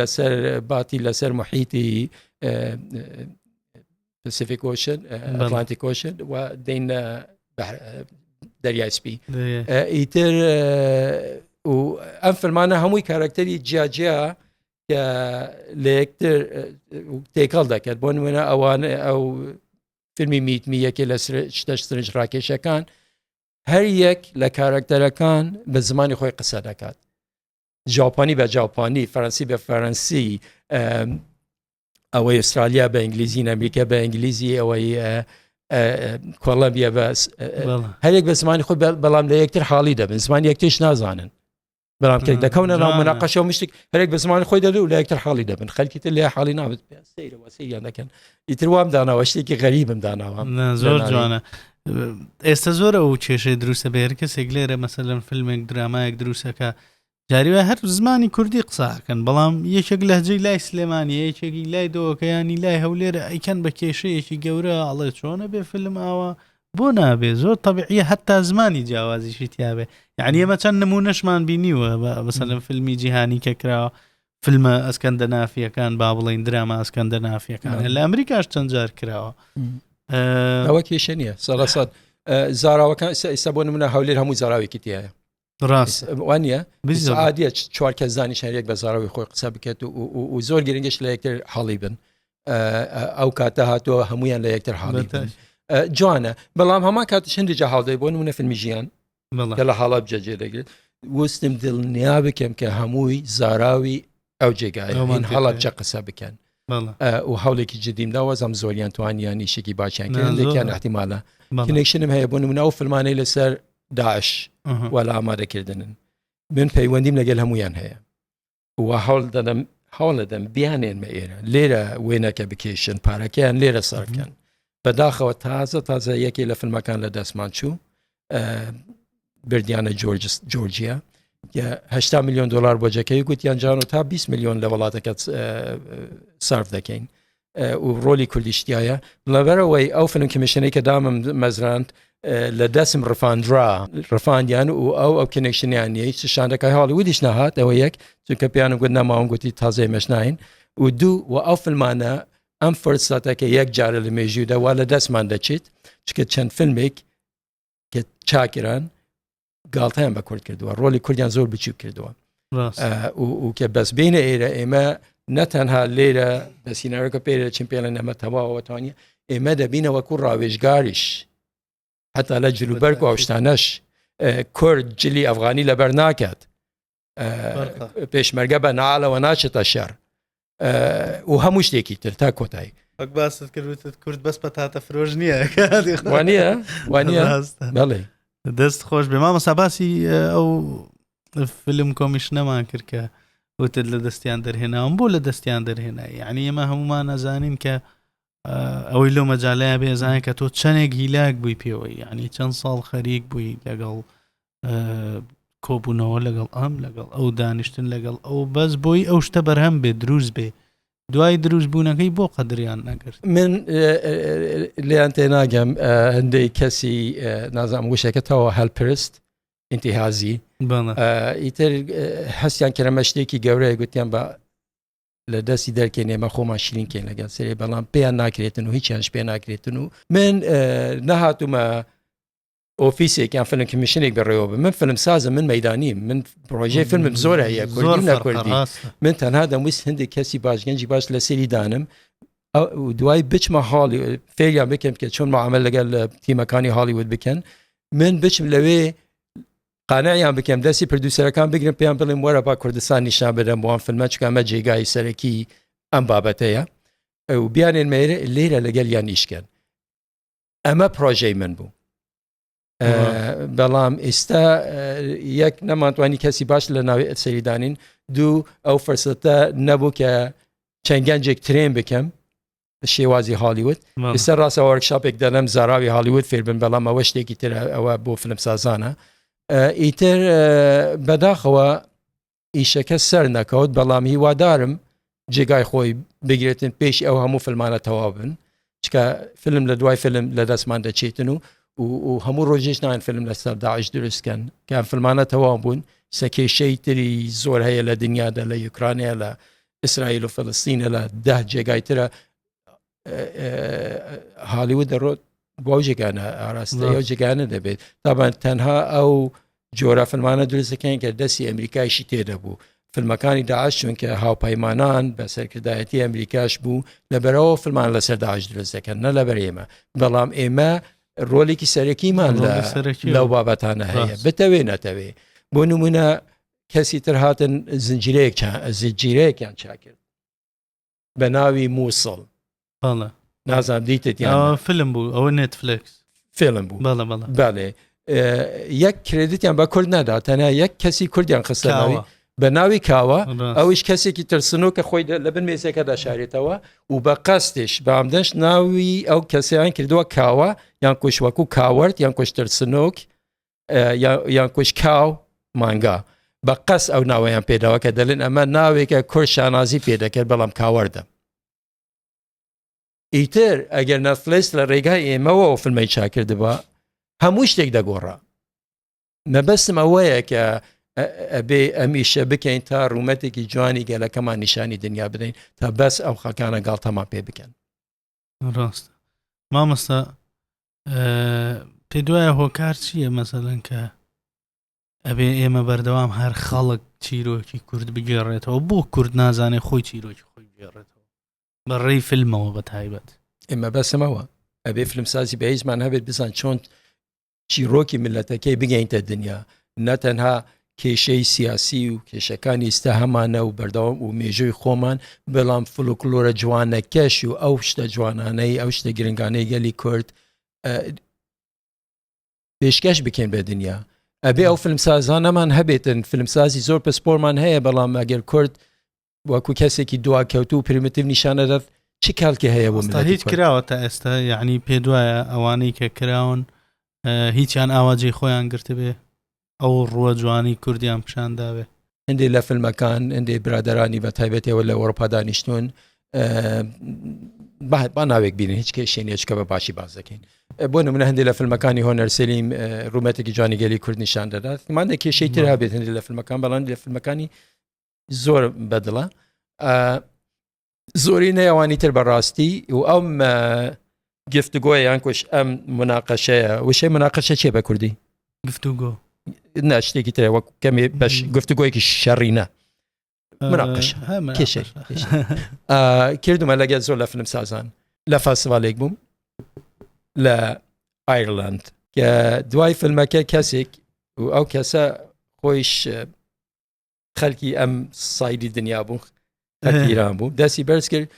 لەسەر باتی لەسەر محیتی پسیفیک کۆشن ئەتلانتی کۆشن و دینە دەریای سپی ئیتر و ئەم فەرمانە هەمووی کارکتەری جیاجیا کە لە یەکتر تێکەڵ دەکرد بۆ نمونە ئەوان ئەو فیلمی میتمی یەکێ لە شتە سرنج ڕاکێشەکان هەر یەک لە کارکتەرەکان بە زمانی خۆی قسە دەکات جاپانی بە جاپانی فەرەنسی بە فەرەنسی ئەوەی ئوسترالیا بە ئینگلیزی ئەمریکا بە ئینگلیزی ئەوەی کۆڵەبیە بە هەرێک بە زمانی خۆ بەڵام لە یەکتر حاڵی دەبن زمان یەکتیش نازانن بەڵام تێک دەکەونە ناو مناقەشە و مشتێک هەرێک بە زمانی خۆی دەدو لە یەکتر حاڵی دەبن خەلکیتر لە حاڵی نابێت سەیرەوە سەیان دەکەن ئیتر وام داناوە شتێکی غەریبم داناوە زۆر جوانە ئێستا زۆر ئەو کێشەی دروستە بێر کەسێک لێرە مەسە لەم فیلمێک درامایەک دروستەکە جاریوە هەر زمانی کوردی قساکەن بەڵام یەکێک لەهجەی لای سلێمانی یەکێکی لای دۆکەیانی لای هەولێرە ئەیکەن بە کێشەیەکی گەورە ئەڵێ چۆنە بێ فیلم ئاوە بۆ نابێ زۆر طبعیە هەتا زمانی جیاوازیشی تیاابێ یعنی ئەمە چەند نمونەشمان بینیوە بەسەلم فیلمی جیهانی کە کراوە فلمە ئەسکەندە نافیەکان با بڵین دراما ئەسکەندە نافیەکان لە ئەمریکاش چەند جار کراوە ئەوە کێشە نییە سەڵسەد زاراوەکان ئێستا بۆ منە هەولێر هەموو زاراوێکی تایە ڕاست وانە عادە چوار کە زانانی شارێک بە زاراوی خۆی قسە بکات و زۆر گرنگش لە یەکتر حاڵی بن ئەو کاتە هاتووە هەمویان لە یەکتر حاڵی جوانە بەڵام هەما کاتش هەندێک جا هاڵدەی بۆن منە فیلمی ژیان کە لە هەڵەبجە جێ دەگرێت وستم دڵنیا بکەم کە هەمووی زاراوی ئەو جێگای من هەڵەبجە قسە بکەن و هەولێکی جدیم داوازم زۆریان توانیان نیشێکی باشیان کردن لێکیان احتیمالە کنێکشنم هەیە بوون منە ئەو فلمانەی لەسەر داعش وەلا ئامادەکردنن من پەیوەندیم لەگەل هەمویان هەیە و هەوڵدەدەم هەوڵەدەم بیانێنمە ئێرە لێرە وێنەکە بکێشن پارەکەیان لێرە سەرکەن بەداخەوە تازە تازە یەکێ لە فیلمەکان لە دەستمان چوو بردیانە جۆرجس جۆرجیا هشتا میلیۆن دلار بۆجەکەی گوتیان جان و تا 20 میلیۆن لە وڵاتەکەت سرف دەکەین و ڕۆلی کوردیشتایە لەبەرەوەی ئەو فلم کمیشنەی کە دامم مەزراند لە دەسم ڕفاندرا ڕفاندیان و ئەو ئەو کنێکشنیان نیە هیچ شاندەکە هاڵی ودیش نەهات ئەوە یەک چونکە پیانم گوت نەماون گوتی تازەی مەشناین و دوو و ئەو فلمانە ئەم فرساتەکە یەک جارە لە مێژوودا وا لە دەستمان دەچێت چکە چەند فیلمێک کە چاکران گاڵتەیان بە کورد کردووە ڕۆلی کوردیان زۆر بچوک کردووە کە بەس بینە ئێرە ئێمە نەتەنها لێرە دەسینەوەکە پێرە چین پێڵە نەمە تەواوەتوانانی ئێمە دەبینەوە کو ڕاوێژگاریش حتا لە جلوبەرگ و ئەوشتانەش کورد جلی ئەفغانی لەبەر ناکات پێشمەرگە بە نالەوە ناچێتە شار و هەموو شتێکی تر تا کۆتایی وەک باست کردوتت کورد بەس پەتاتە فرۆژ نییە وانە وانە بەڵێ دەست خۆش بێ مامە ساباسی ئەو فلم کۆمیشنەمان کرد کە وتت لە دەستیان دەرهێناوم بۆ لە دەستیان دەرهێنا یعنی ئێمە هەمومان نەزانین کە ئەوەی لەو مەجاالەیە بێزانە کە تۆ چەندێک هیلاک بووی پێوەی یعنی چەند ساڵ خەریک بووی لەگەڵ کۆبوونەوە لەگەڵ ئەم لەگەڵ ئەو دانیشتن لەگەڵ ئەو بەس بۆی ئەو شتە بەرهەم بێ دروست بێ دوای دروست بوونەکەی بۆ قەدریان نەگرت من لێیان تێناگەم هەندێک کەسی نازام وشەکەتەوە هەلپرست ئینتیهازی ئیتر هەستیان کرەمە شتێکی گەورەیە گوتیان بە لە دەستی دەرکێن ئێمە خۆمان شرینکەین لەگەن سێ بەڵام پێیان ناکرێتن و هیچیانش پێ ناکرێتن و من نەهاتومە ئۆفیسێک یان فلم کمیشنێک بەڕێوە بە من فلم سازە من مەدانی من پرۆژەی فلمم زۆر هەیە کوردی نەکردی من تەنها دەمویست هەندێک کەسی باشگەنجی باش لە سری دانم دوای بچمە هاڵی فێریان بکەم کە چۆن معامل لەگەر لە تیمەکانی هاڵیوود بکەن من بچم لەوێ قانەیان بکەم دەستی پردوسەرەکان بگرم پێیان بڵێم وەرە با کوردستان نیشان بدەم بۆوان فلمە چکەمە جێگای سەرەکی ئەم بابەتەیە و بیانێن مێرە لێرە لەگەل یان نیشکەن ئەمە پرۆژەی من بوو بەڵام ئێستا یەک نەمانتوانی کەسی باش لە ناوی سەریدانین دوو ئەو فرسەتە نەبوو کە چەند گەنجێک ترێن بکەم شێوازی هالیوت ئستا ڕاستە وەرکشاپێک دەڵم زاراوی هالیوت فێربن بەڵام ئەوە شتێکی تر ئەوە بۆ فلم سازانە ئیتر بەداخەوە ئیشەکە سەر نەکەوت بەڵام هیوادارم جێگای خۆی بگرێتن پێش ئەو هەموو فلمانە تەواو بن چکە فلم لە دوای فلم لە دەستمان دەچێتن و و هەموو ڕۆژێش نان فلم لە سەر داعش دروستکەن کە فلمانە تەواو بوون سەکێشەی تری زۆر هەیە لە دنیادا لە یوکرانیا لە ئیسرائیل و فلستینە لە ده جێگای ترە هالیوە دەڕۆت بۆ جێگانە ئاراستە ئەو جێگانە دەبێت تابان تەنها ئەو جۆرە فەرمانە دروستەکەین کە دەستی ئەمریکایشی تێدەبوو فیلمەکانی داعش چونکە هاوپەیمانان بە سەرکردایەتی ئەمریکاش بوو لەبەرەوە فلمان لەسەر داعش درست دەکەن نە لەبەر ئێمە بەڵام ئێمە ڕۆلێکی سەرەکیمان لە سەرەکی لەو بابەتانە هەیە بتەوێ نەتەوێ بۆ نمونە کەسی تر هاتن زنجیرەیەک زنجیرەیەکیان چاکرد بە ناوی مووسڵ بەڵە نازان دیتت یا فلم بوو ئەوە نێتفلکس فێڵم بوو بەڵە بەڵە بەڵێ یەک کرێدتیان بە کورد نادا تەنیا یەک کەسی کوردیان خستەوە بە ناوی کاوە ئەوش کەسێکی ترسنۆ کە خۆی لە بن مێزەکەدا شارێتەوە و بە قەستێش بامدەنش ناوی ئەو کەسیان کردووە کاوە یان کوشوەکو کاوەرت یان کوشترسنۆک یان کوش کاو مانگا بە قەس ئەو ناوەیان پێداوە کە دەلێن ئەمە ناوێکە کۆ شانازی پێ دەکرد بەڵام کاوەەردە ئیتر ئەگەر نەفلس لە ڕێگای ئێمەەوە و فلمەی چاکردبا هەموو شتێک دەگۆڕا مەبەستم ئەوەیە کە ئەبێ ئەمیشە بکەین تا ڕوومەتێکی جوانی گەلەکەمان نیشانی دنیا بدەین تا بەس ئەو خەکانە گاڵتەمان پێ بکەن ڕاستە مامەستا پێ دوایە هۆکار چییە مەسەلەن کە ئەبێ ئێمە بەردەوام هەر خەڵک چیرۆکی کورد بگێڕێتەوە بۆ کورد نازانێ خۆی چیرۆکی خۆی بگێڕێتەوە بە ڕێی فیلمەوە بە تایبەت ئێمە بەسمەوە ئەبێ فیلمسازی بەهیزمان هەبێت بزان چۆن چیڕۆکی میللەتەکەی بگەینتە دنیا نە تەنها کێشەی سیاسی و کێشەکانی ئیستا هەمانە و بەردەوام و مێژووی خۆمان بەڵام فلوکلۆرە جوانەکەش و ئەو شتە جوانانەی ئەو شتە گرنگانەی گەلی کورد پێشکەش بکەین بە دنیا ئەبێ ئەو فلمسازانەمان هەبێتن فلمسازی زۆر پسپۆرمان هەیە بەڵام ئەگەر کورد وەکو کەسێکی دواکەوتو و پرمتیف نیشانەدات چ کالکی هەیە بۆ هیچ کراوە تا ئێستا یعنی پێ دوایە ئەوانەی کە کراون هیچیان ئاواجی خۆیان گرتبێ ئەو ڕووە جوانی کوردیان پیشان داوێ هەندێک لە فیلمەکان هەندێک برادرانی بە تایبەتەوە لە وەرپا دانیشتون با ناوێک بینین هیچ کێشێنە چکە بە باشی باز دەکەین بۆ نمونە هەندێک لە فیلمەکانی هۆنەرسلیم ڕوومەتێکی جوانیگەلی کورد نیشان دەدات مادە کێشەی تر هەبێت هەندێک لە فیلمەکان بەڵام لە فیلمەکانی زۆر بەدڵە زۆری نەیەوانی تر بەڕاستی و ئەم گفتگۆی یان کوش ئەم مناقەشەیە وشەی مناقەشە چێ بە کوردی گفتوگۆ نا شتێکی ترە وەک کەمێ بەش گفتوگۆیەکی شەڕینە مناقش کێشێ کردمە لەگە زۆر لە فلم سازان لە فاسڤالێک بووم لە ئایرلاند کە دوای فیلمەکە کەسێک و ئەو کەسە خۆیش خەلکی ئەم سایدی دنیا بوو ئەکیران بوو دەستی بەرز کرد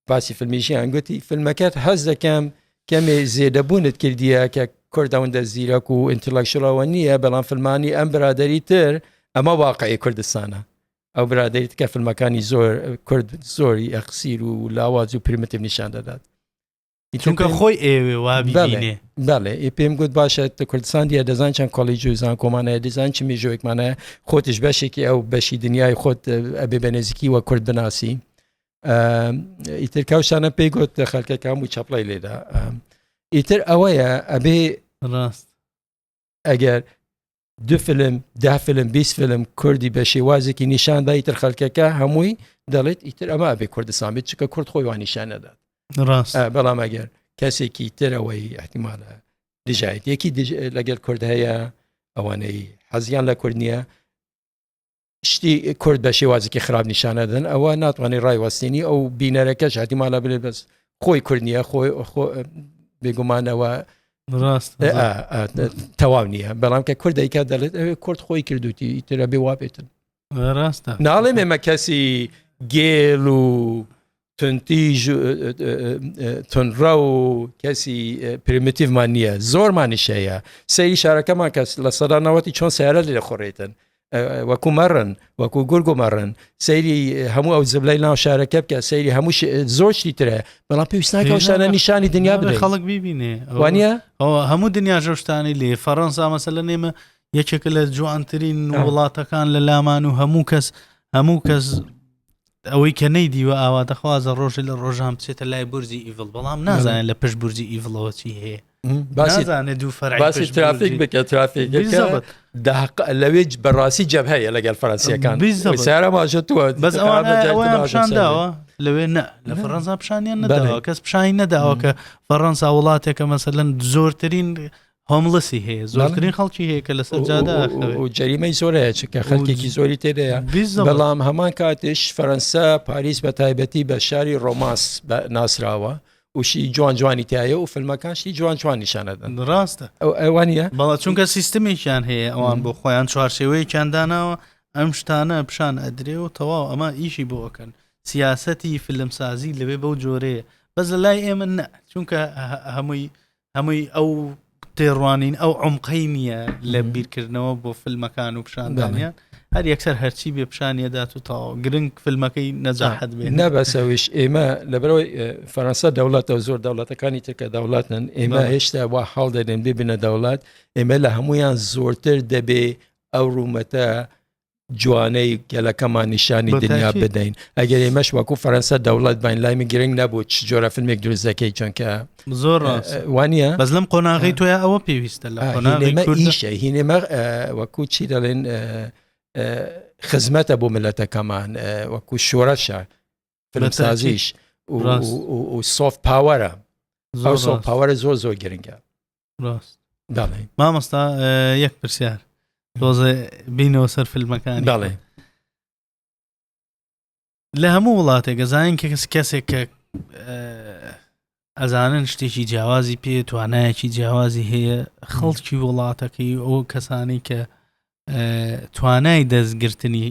باسی فیلمیشیان گوتی فیلمەکەت هەز دەکەم کەمێ زێدەبوونت کردیە کە کوردەوەندە زیرەک و ئینتلەکشڵەوە نییە بەڵام فیلمانی ئەم برادری تر ئەمە واقعی کوردستانە ئەو برادری تکە فیلمەکانی زۆر کورد زۆری ئەخسیر و لاواز و پرمتیب نیشان دەدات چونکە خۆی ئێوێ وابیێ بەڵێ ئێ پێم گوت باشە تە کوردستان دیە دەزان چەند کۆلی جوزان کۆمانە دیزان چ مێژۆێکمانە خۆتش بەشێکی ئەو بەشی دنیای خۆت ئەبێ بە نێزیکی وە کورد بناسی ئیتر کاوشانە پێی گوت خەلکەکان و چەپڵی لێدا ئیتر ئەوەیە ئەبێ ڕاست ئەگەر دو فلم ده فلم 20 فلم کوردی بە شێوازێکی نیشان دا ئیتر خەلکەکە هەمووی دەڵێت ئیتر ئەمە بێ کوردستان بێت چکە کورد خۆی وانیشان نەدات ڕاست بەڵام ئەگەر کەسێکی ترەوەی احتیمالە دژایەتێکی لەگەل کورد هەیە ئەوانەی حەزیان لە کورد نییە شتی کورد بە شێوازێکی خراپ نیشانەدەن ئەوە ناتوانانی ڕایوەستێنی ئەو بینەرەکەش هاتیمالا بێ بەس خۆی کورد نییە خۆی بێگومانەوە ڕاست تەواو نییە بەڵام کە کورد دایکا دەڵێت ئەوێ کورد خۆی کردوتی ترە بێ وابێتن ڕاستە ناڵێ مێمە کەسی گێل و تونتیژ تونڕە و کەسی پرمتیڤمان نییە زۆرمانیش هەیە سەیری شارەکەمان کەس لە سەدانەوەتی چۆن سیارە لێ خۆڕێتن وەکو مەڕن وەکو گورگ و مەڕن سەیری هەموو ئەو زبلای ناو شارەکە بکە سەیری هەموو زۆشتی ترە بەڵام پێویستناکەشتانە نیشانی دنیا بێ خەڵک ببینێ وانە هەموو دنیا ژۆشتانی لێ فەڕەنسا مەسە لە نێمە یەکێکە لە جوانترین وڵاتەکان لە لامان و هەموو کەس هەموو کەس ئەوەی کە نەیدیوە ئاواتەخوازە ڕۆژێ لە ڕۆژان بچێتە لای بورجی ئیڤڵ بەڵام نازانێت لە پشت بورجی ئیڤڵەوە چی هەیە باسیزانێت دوو فەرباسی ترافیک بکە ترافیک داق لەوێ بەڕاستی جەب هەیە لەگەل فەرەنسیەکان سارە ماژەتووە بەس ئەوانشانداوە لەوێ نە لە فەرەنسا پیشانیان نەداوە کەس پیشانی نەداوە کە فەڕەنسا وڵاتێکە مەسەلەن زۆرترین هۆمڵسی هەیە زۆرترین خەڵکی هەیە کە لەسەر جادە ئاخەوێت و جەریمەی زۆرەیە چکە خەڵکێکی زۆری تێدەیە بەڵام هەمان کاتش فەەنسا پاریس بە تایبەتی بە شاری ڕۆماس ناسراوە وشی جوان جوانی تایە و فلمەکانشی جوان جوان نیشانەدەن ڕاستە ئەو ئەوانە بەڵا چونکە سیستمێکیان هەیە ئەوان بۆ خۆیان چوارچێوەیەکیان داناوە ئەم شتانە پیشان ئەدرێ و تەواو ئەمە ئیشی بۆ ئەکەن سیاستی فلمسازی لەوێ بەو جۆرەیە بەس لە لای ئێمە چونکە هەمووی هەمووی ئەو تێڕوانین ئەو عمقەی نییە لە بیرکردنەوە بۆ فیلمەکان و پیشاندانیان هەر یەکسەر هەرچی بێ پیشانیەدات و تاو گرنگ فیلمەکەی نەجاحت بێ نەبەسەویش ئێمە لەبەرەوەی فەرەنسا دەوڵەتە زۆر دەوڵەتەکانی ترکە دەوڵاتن ئێمە هێشتا وا حاڵ دەێن ببنە دەوڵات ئێمە لە هەمویان زۆرتر دەبێ ئەو ڕوومەتە جوانەی گەلەکەمان نیشانی دنیا بدەین ئەگەر ئێمەش وەکو فەرەنسا دەوڵەت باین لای من گرنگ نەبوو چ جۆرە فیلمێک دروست دەکەی چونکە زۆر وانە بەس لەم قۆناغی تۆە ئەوە پێویستە لە قۆناغیشە هینێمە وەکو چی دەڵێن خزمەتە بۆ ملەتەکەمان وەکو شۆرەشە فلمسازیش و سۆف پاوەرە زۆر پاوەرە زۆر زۆر گرنگە دەڵێ مامۆستا یەک پرسیار تۆزە بینەوە سەر فیلمەکان دەڵێ لە هەموو وڵاتێک گەزانین کە کەس کەسێک کە ئەزانن شتێکی جیاوازی پێ توانایەکی جیاوازی هەیە خەڵکی وڵاتەکەی ئەو کەسانی کە توانای دەستگرتنی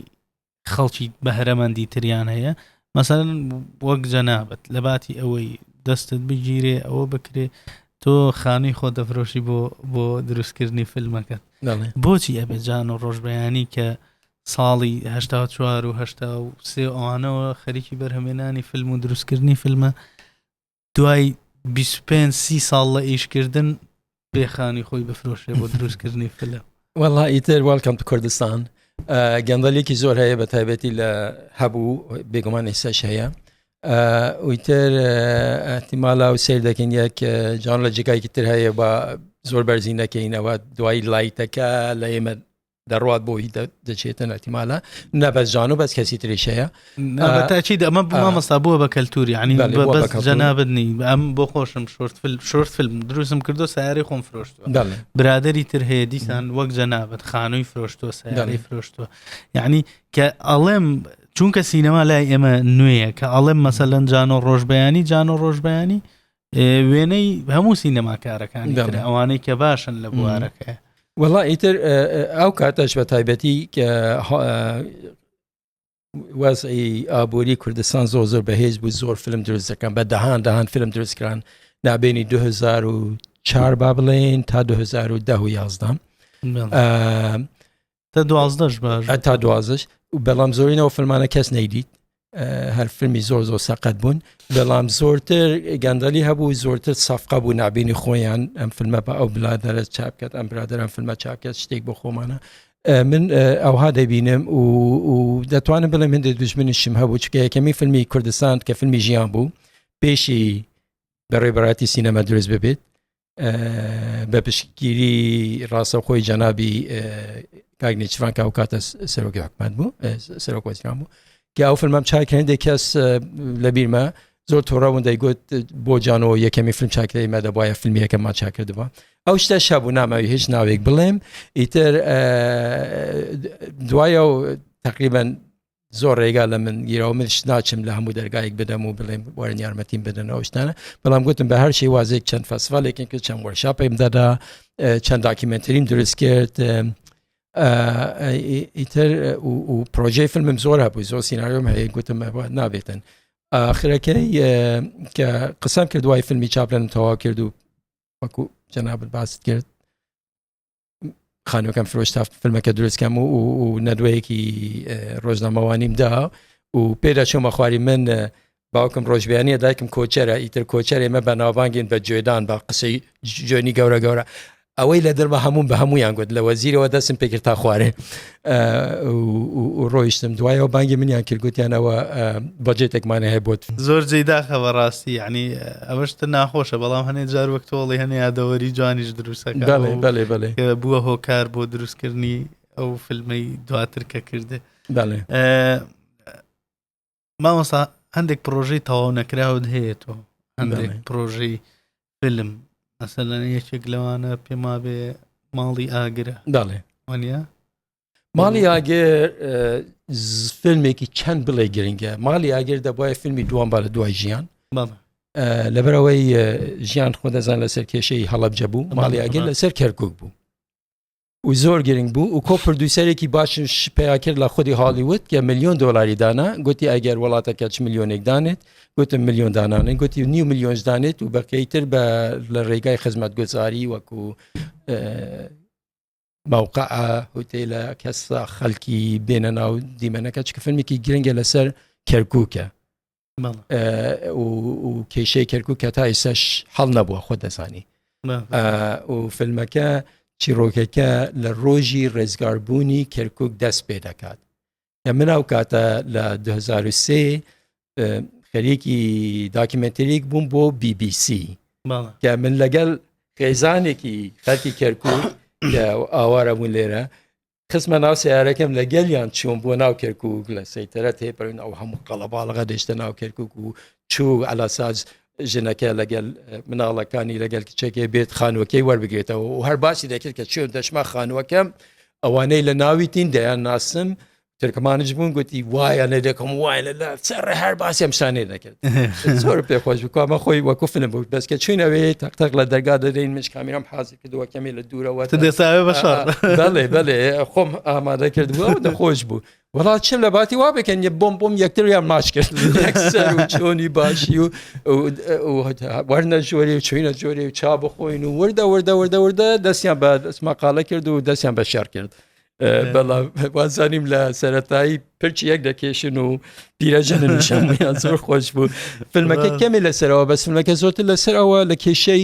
خەڵکی بەهرەمەندی تریان هەیە مەسەرن وەک جەنابەت لە باتی ئەوەی دەستت بگیرێ ئەوە بکرێ تۆ خانووی خۆ دەفرۆشی بۆ بۆ دروستکردنی فیلمەکەت بۆچی ئەبێ جان و ڕۆژبیانی کە ساڵی هشتا چوار و هشتا و سێ ئەوانەوە خەریکی بەرهەمێنانی فیلم و دروستکردنی فیلمە دوای 25 سی ساڵ لە ئیشکردن پێخانی خۆی بفرۆشێ بۆ دروستکردنی فلە وەڵا ئیتر وەڵکەم کوردستان گەندەلێکی زۆر هەیە بە تایبەتی لە هەبوو بێگومان ئێساش هەیە ئویتر ئەتیمالا و سیر دەکەین یەک جان لە جێگایکی تر هەیە بە زۆر بەرزی نەکەینەوە دوای لایتەکە لە ئێمە دەڕوات بۆی دەچێتن ئەتیمالە نەبەزانو بەس کەسی تریشەیە تاچید ئەمە مامەستا بووە بە کەلتوری عنی جەنابنی ئەم بۆ خۆشم شورت شورت فیلم دروستم کردو سیاری خۆم فرۆشت برادری تر هەیە دیسان وەک جەنابەت خانووی فرۆشتووە سیاری فرۆشتووە یعنی کە ئەڵێم چونکە سینەما لای ئێمە نوێیە کە ئەڵێم مەسەلەن جانۆ ڕۆژبیانی جانۆ ڕۆژبیانی وێنەی هەموو سینەماکارەکانی تر ئەوانەی کە باشن لە بوارەکە وڵا ئیتر ئەو کاتەش بە تایبەتی کە وەزعی ئابووری کوردستان زۆر زۆر بەهێز بوو زۆر فلم دروست دەکەم بە دەهان دەهان فلم دروستکران نابێنی 2004 با بڵێن تا 2010 یازدان تا دوازدەش باش تا دوازش بەڵام زۆرینەوە فلمانە کەس نەیدیت هەر فیلمی زۆر زۆر سەقەت بوون بەڵام زۆرتر گەندەلی هەبوو زۆرتر سافقا بوو نابینی خۆیان ئەم فیلمە بە ئەو بلادەرە چاپکات ئەم برادران فیلمە چاپکات شتێک بۆ خۆمانە من ئەوها دەبینم و دەتوانم بڵێ من دژمنیشم هەبوو چکە یەکەمی فیلمی کوردستان کە فیلمی ژیان بوو پێشی بەڕێبراتی سینەما دروست ببێت بە پشتگیری ڕاستەوخۆی جەنابی کاگنیچفان کا و کاتە سەرۆکی حکومت بوو سەرۆک وەزیران بوو کە ئەو فیلمم چاک هەندێک کەس لە بیرمە زۆر تۆڕەون دەیگوت بۆ جانەوە یەکەمی فیلم چاکرەی مە دەبواە فیلمی یەکەمان چاکردەوە ئەو شتە شەبوو ناماوی هیچ ناوێک بڵێم ئیتر دوایە و تقریبان زۆر ڕێگا لە من گیرەوە من شت ناچم لە هەموو دەرگایك بدەم و بڵێم وارن یارمەتیم بدەنەوە شتانە بەڵام گوتم بە هەر شێ وازێک چەند فەسفالێکن کە چەند وەرشا پێم دەدا چەند داکیمنتریم دروست کرد ئیتر و پرۆژەی فیلمم زۆر هەبوو زۆر سینناریۆم هەیە گوتم نابێتن ئاخرەکەی کە قسەم کرد دوای فیلمی چاپلەن تەوا کرد و وەکو جەنابەت باست کرد خانوەکەم فرۆش تا فیلمەکە دروستکەم و و نەدوەیەکی ڕۆژنامەوانیم دا و پێدا چۆمە خواری من باوکم ڕۆژبیانە دایکم کۆچەرە ئیتر کۆچەر ئێمە بە ناوبانگین بە جوێدان بە قسەی جوێنی گەورە گەورە ئەوەی لە دەرمە هەموم بە هەمویان گوت لە وەزیرەوە دەسم پێکرد تا خوارێ و ڕۆیشتم دوایەوە بانگی منیان کرد گوتیان ئەوە بەجێتێکمانە هەیە بۆت زۆر جێی داخە بەڕاستی یعنی ئەوەشتە ناخۆشە بەڵام هەنێ جار وەک تۆڵی هەنێ یادەوەری جوانیش دروستەکە بەڵێ بەڵێ بەڵێ بووە هۆکار بۆ دروستکردنی ئەو فیلمەی دواتر کە کردێ بەڵێ مامۆسا هەندێک پرۆژەی تەواو نەکراوت هەیە تۆ هەندێک پرۆژەی فلم مەسەلەن یەکێک لەوانە پێما بێ ماڵی ئاگرە داڵێ وانە ماڵی ئاگەر فیلمێکی چەند بڵێ گرنگە ماڵی ئاگەر دەبواە فیلمی دووان بارە دوای ژیان لەبەرەوەی ژیان خۆ دەزان لەسەر کێشەی هەڵبجە بوو ماڵی ئاگەر لەسەر کەرکک بوو و زۆر گرنگ بوو و کۆ پردوسەرێکی باشش پیا کرد لە خودی هالیوود کە میلیۆن دلاری دانا گوتی ئەگەر وڵاتە کەچ میلیۆنێک دانێت گوتم میلیۆن دانانێت گوتی نیو میلیۆنش دانێت و بەکەی تر بە لە ڕێگای خزمەت گوزاری وەکو مووقع هوتێلە کەسا خەلکی بێنە ناو دیمەنەکە چکە فەرمێکی گرنگە لەسەر کەرکووکە و کێشەی کەرکک کە تا ئێسش حەڵ نەبووە خۆ دەزانی و فیلمەکە چیرۆکەکە لە ڕۆژی ڕێزگاربوونی کەرکک دەست پێ دەکات لە من ئەو کاتە لە 2023 خەریکی داکیمنتریک بووم بۆ BBC کە من لەگەڵ خێزانێکی خەرکی کەرکک ئاوارە بوون لێرە خستمە ناو سیارەکەم لە گەلیان چوون بۆ ناو کەرکک لە سەیتەرە تێپەرین ئەو هەموو قەڵەباڵغە دێشتە ناو کەرکک و چوو ئەلاساج ژنەکە لەگەل مناڵەکانی لەگەل کچەکەی بێت خانوەکەی وەربگرێتەوە و هەر باسی دەکرد کە چێن دەشما خانوەکەم ئەوانەی لە ناوی تین دەیان ناسم ترکمانش بوون گوتی وایە لە دەکەم وای لە لە سەر هەر باسی ئەم شانێ دەکرد زۆر پێخۆش بکوامە خۆی وەکوفنە بوو بەسکە چوینەوەی تەقتەق لە دەرگا دەدەین مش کامیرام حازی کردوە کەمێ لە دوورەوە دەساێ بە شار بەڵێ بەڵێ خۆم ئامادە کردووە و نەخۆش بوو وڵا چ لە باتی وا بکەن یە بۆم بۆم یەکتر یان ماچ کرد چۆنی باشی و وەرنە جۆری و چوینە جۆری و چا بخۆین و وردە وردە وردە وردە دەستیان بە دەستمەقالە کرد و دەستیان بە شار کرد. بەڵام وازانیم لە سەتایی پرچ یەک دەکێشن و پیرەژەنشان زۆر خۆش بوو فیلمەکە کەمی لەسەرەوە بەسمەکە زۆرتر لەسەرەوە لە کێشەی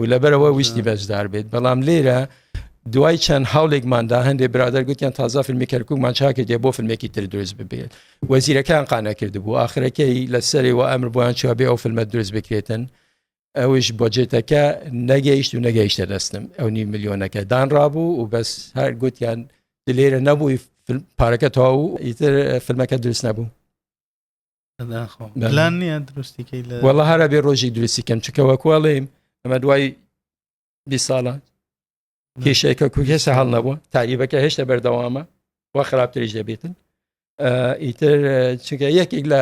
و لەبەرەوە ویستی بەشدار بێت بەڵام لێرە دوای چەند هەڵێکماندا هەندێک برادەر گوتیان تازا فیلمی کەرکوومان چاکرد دێ بۆ فیلمێکی تر دروست ببێت وەزیرەکان قانە کرد بوو آخرەکەی لە سەری و ئەمر بۆیان چوە بێ ئەو فیلمە دروست بکرێتن ئەوش بۆجێتەکە نەگەیشت و نەگەیشتە دەستم ئەو نی ملیۆنەکە دانڕابوو و بەس هەر گوتیان لێرە نەبووی پارەکە تەواو ئیتر فیلمەکە دروست نەبوو پلان نییە دروستیکەی لە وەڵە هەرە بێ ڕۆژی دروستی کەم چکەوەکوڵێم ئەمە دوای بی ساڵە کێشەکە کو هێستا هەڵ نەبووە تاریبەکە هێشتا بەردەوامە و خراپتریش دەبێتن ئیتر چونکە یەکێک لە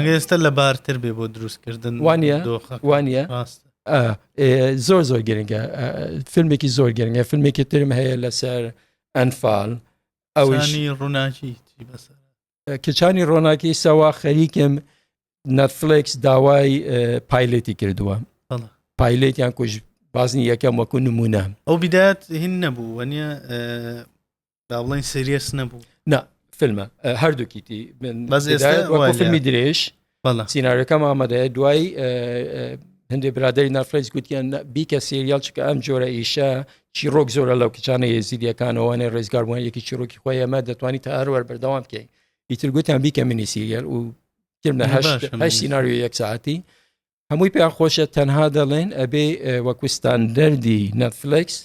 ئێستا لە بارتر بێ بۆ دروستکردن وانە وانە زۆر زۆر گرنگە فیلمێکی زۆر گرنگە فیلمێکی ترم هەیە لەسەر ئەنفال ئەوشی ڕووناکی بەسەر کچانی ڕۆناکی سەوا خەریکم نەتفلکس داوای پایلێتی کردووە پایلێتیان کوژ بازنی یەکەم وەکو نمونە ئەو بدات هین نەبوو وەنیە با بڵین سریەس نەبوو نا فیلمە هەردووکیتی فیلمی درێژ سینناریەکەم ئامادەیە دوایی هەندێک برادری نافرەنس گوتیان بیکە سریال چکە ئەم جۆرە ئیشە چیرۆک زۆرە لەو کچانە یزیدیەکانەوەە ڕێزگاربووان یەکی چیرۆکی خۆی ئەمە دەتوانانی تا هەروەر بەردەوام بکەین ئیتر گوتیان بیکە منی سیریال و سینناریو یەک ساعتی هەمووی پێیان خۆشە تەنها دەڵێن ئەبێ وەکوستان دەردی نەفلکس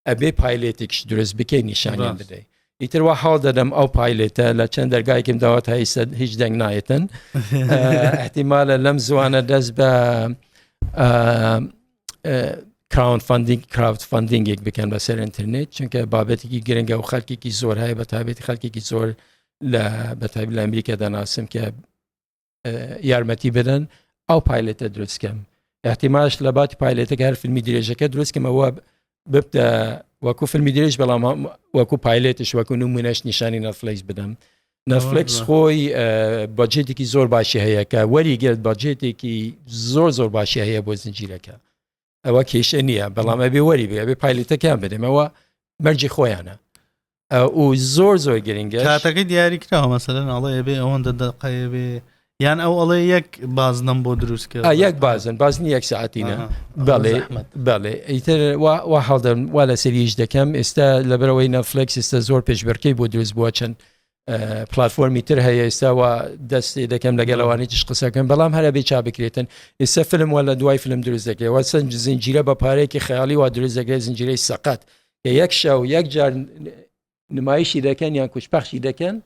ئەبێ پایلێتێکش دروست بکەی نیشانیان بدەی ئیتر وا حاڵ دەدەم ئەو پایلێتە لە چەند دەرگایکم داوە تا ئیسە هیچ دەنگ نایەتن احتیمالە لەم زوانە دەست بە کراون فندینگ کراوت فندینگێک بکەن بەسەر ئینتررنێت چونکە بابەتێکی گرنگە و خەلکێکی زۆر هەیە بە تابێت خەلکێکی زۆر لە بەتابی لە ئەمریکا دەناسم کە یارمەتی بدەن ئەو پایلێتە دروستکەم احتیماش لە باتی پایلێتەکە هەر فیلمی درێژەکە دروستکەمەوە ببتە وەکو فیلمی درێژ بەڵام وەکو پایلێتش وەکو نمونەش نیشانی نەفلەیس بدەم نەفلکس خۆی بەجێتێکی زۆر باشی هەیەکە وەری گرت بەجێتێکی زۆر زۆر باشی هەیە بۆ زنجیرەکە ئەوە کێشە نییە بەڵام ئەبێ وەری بێ ئەبێ پایلتەکەیان بدەمەوە مەرجی خۆیانە ئەو زۆر زۆر گرنگە کاتەکە دیاری کراوە مەسەرەن ئەڵێ بێ ئەوەندە دەقەیە بێ یان ئەو ئەڵێ یەک بازنم بۆ دروست کرد یەک بازن بازنی یەک ساعتینە بەڵێ بەڵێ ئیتر وا هەڵدەم وا لە سەریش دەکەم ئێستا لەبەرەوەی نەفلکس ئێستا زۆر پێشبەرکەی بۆ دروست بووە چەند پلتفۆرمی تر هەیە ئێستا و دەستی دەکەم لەگەڵ ئەوانی تش قسەکەم بەڵام هەرە بێ چا بکرێتن ئێستا فلم وە لە دوای فلم دروست دەکرێت وە سنج زنجیرە بە پارێکی خیاڵی وا دروست دەکرێت زنجیرەی سەقەت کە یەک شە و یەک جار نمایشی دەکەن یان کوچپەخشی دەکەن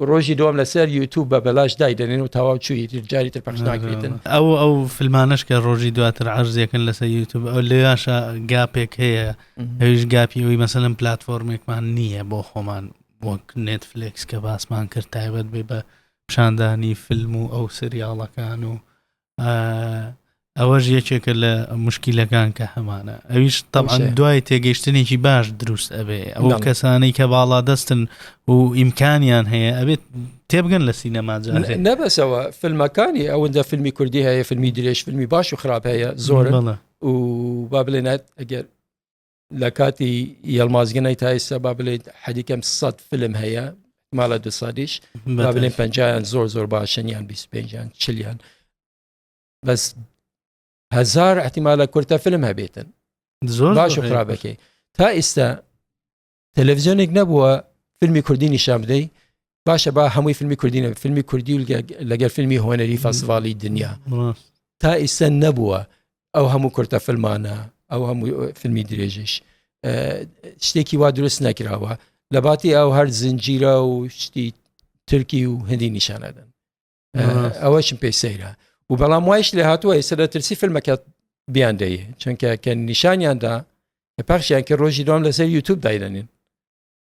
ڕۆژی دوم لەسەر یوتوب بە بەلاش دایدەێن و تەواو چووی جاری تر پخش ناکرێتن ئەو ئەو فیلمانش کە ڕۆژی دواتر عرزیەکەن لەسەر یوتوب ئەو لێاشە گاپێک هەیە ئەویش گاپی ئەوی مەسەلم پلتفۆرمێکمان نییە بۆ خۆمان وەک نێتفلێکس کە باسمان کرد تایبەت بێ بە پیشاندانی فیلم و ئەو سریاڵەکان و ئەوەش یەکێکە لە مشکیلەکان کە هەمانە ئەویش تەمان دوای تێگەیشتنێکی باش دروست ئەبێ ئەو کەسانەی کە باڵا دەستن و ئیمکانیان هەیە ئەبێت تێبگەن لە سینەما نەبەسەوە فیلمەکانی ئەوەندە فیلمی کوردی هەیە فیلمی درێژ فیلمی باش و خراپ هەیە زۆر و با بلێنێت ئەگەر لە کاتی یەڵمازگەنای تا ئێستا با بڵێت حەدیکەم سە فلم هەیە ماڵە دو سادیش با بڵێن پنجیان زۆر زۆر باشنیان 25یان چلیان بەس هزار احتیمالە کورتە فلم هەبێتن زۆر باش و خراپەکەی تا ئێستا تەلەڤزیۆنێک نەبووە فیلمی کوردی نیشان بدەی باشە با هەمووی فیلمی کوردینە فیلمی کوردی لەگەر فیلمی هۆنەری فەسڤاڵی دنیا تا ئیسە نەبووە ئەو هەموو کورتە فلمانە ئەو هەموو فیلمی درێژش شتێکی وا دروست نەکراوە لە باتی ئەو هەر زنجیرە و شتی ترکی و هەندی نیشانەدەن ئەوەشم پێی سەیرە و بەڵام وایش لە هاتووە ئێستا لە ترسی فیلمەکە بیان دەیە چونکە کە نیشانیاندا پاخشیان کە ڕۆژی دوام لەسەر یوتوب دایدەنین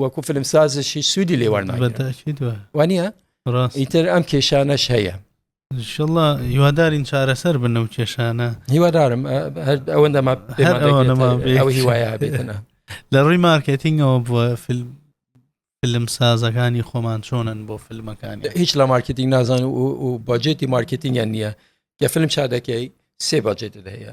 وەکو فلمسازشی سوودی لێوان وانە ئیتر ئەم کێشانەش هەیە شڵە هیوادارین چارەسەر بن و کێشانە هیوادارم ئەوەندە هیوایە بێتنە لە ڕووی مارکتینگەوە بووە فیلم فیلم سازەکانی خۆمان چۆنن بۆ فیلمەکانی هیچ لە مارکتینگ نازان و باجێتی مارکتینگیان نییە کە فیلم چا دەکەی سێ باجێتت هەیە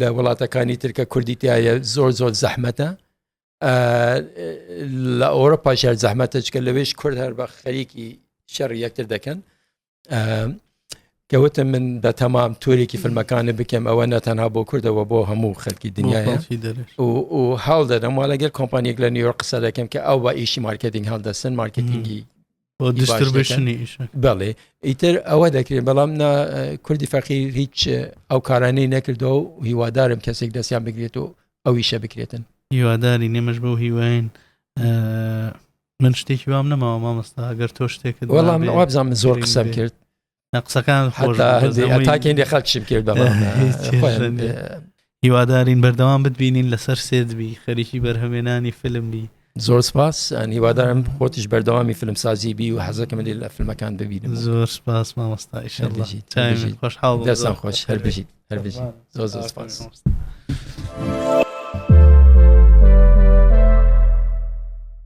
لە وڵاتەکانی ترکە کوردی تایە زۆر زۆر زەحمەتە لە ئەوروپا شار زەحمەتە چکە لەوێش کورد هەر بە خەریکی شەڕ یەکتر دەکەن کەوتە من بە تەمام تورێکی فیلمەکانە بکەم ئەوە نەتەنها بۆ کردەوە بۆ هەموو خەلکی دنیاە و هەڵ دەدەم وا لەگەر کۆمپانیەک لە نیوە قسە دەکەم کە ئەو بە ئیشی مارکتنگ هەڵدەسن مارکتنگی بەڵێ ئیتر ئەوە دەکرێت بەڵام کوردی فەقیر هیچ ئەو کارانەی نەکردەوە و هیوادارم کەسێک دەستیان بگرێت و ئەویشە بکرێتن هیواداری نێمەش بۆ هیواین من شتێکی وام نەماوە مامەستا گەر تۆ شتێکت وەڵام وابزانام زۆر قسەم کرد قسەکان تاکێندێ خەک شم کرد هیوادارین بەردەوام بتبینین لەسەر سێدبی خەریکی بەرهەمێنانی فیلم بی زۆر سپاس هیوادارم خۆتیش بەردەوامی فیلم سازی بی و حەزەکەم لێ لە فیلمەکان ببینم زۆر سپاس مامۆستا خۆش حاڵ دەسان خۆش هەر بژیت هەر بژیت زۆر زۆر سپاس.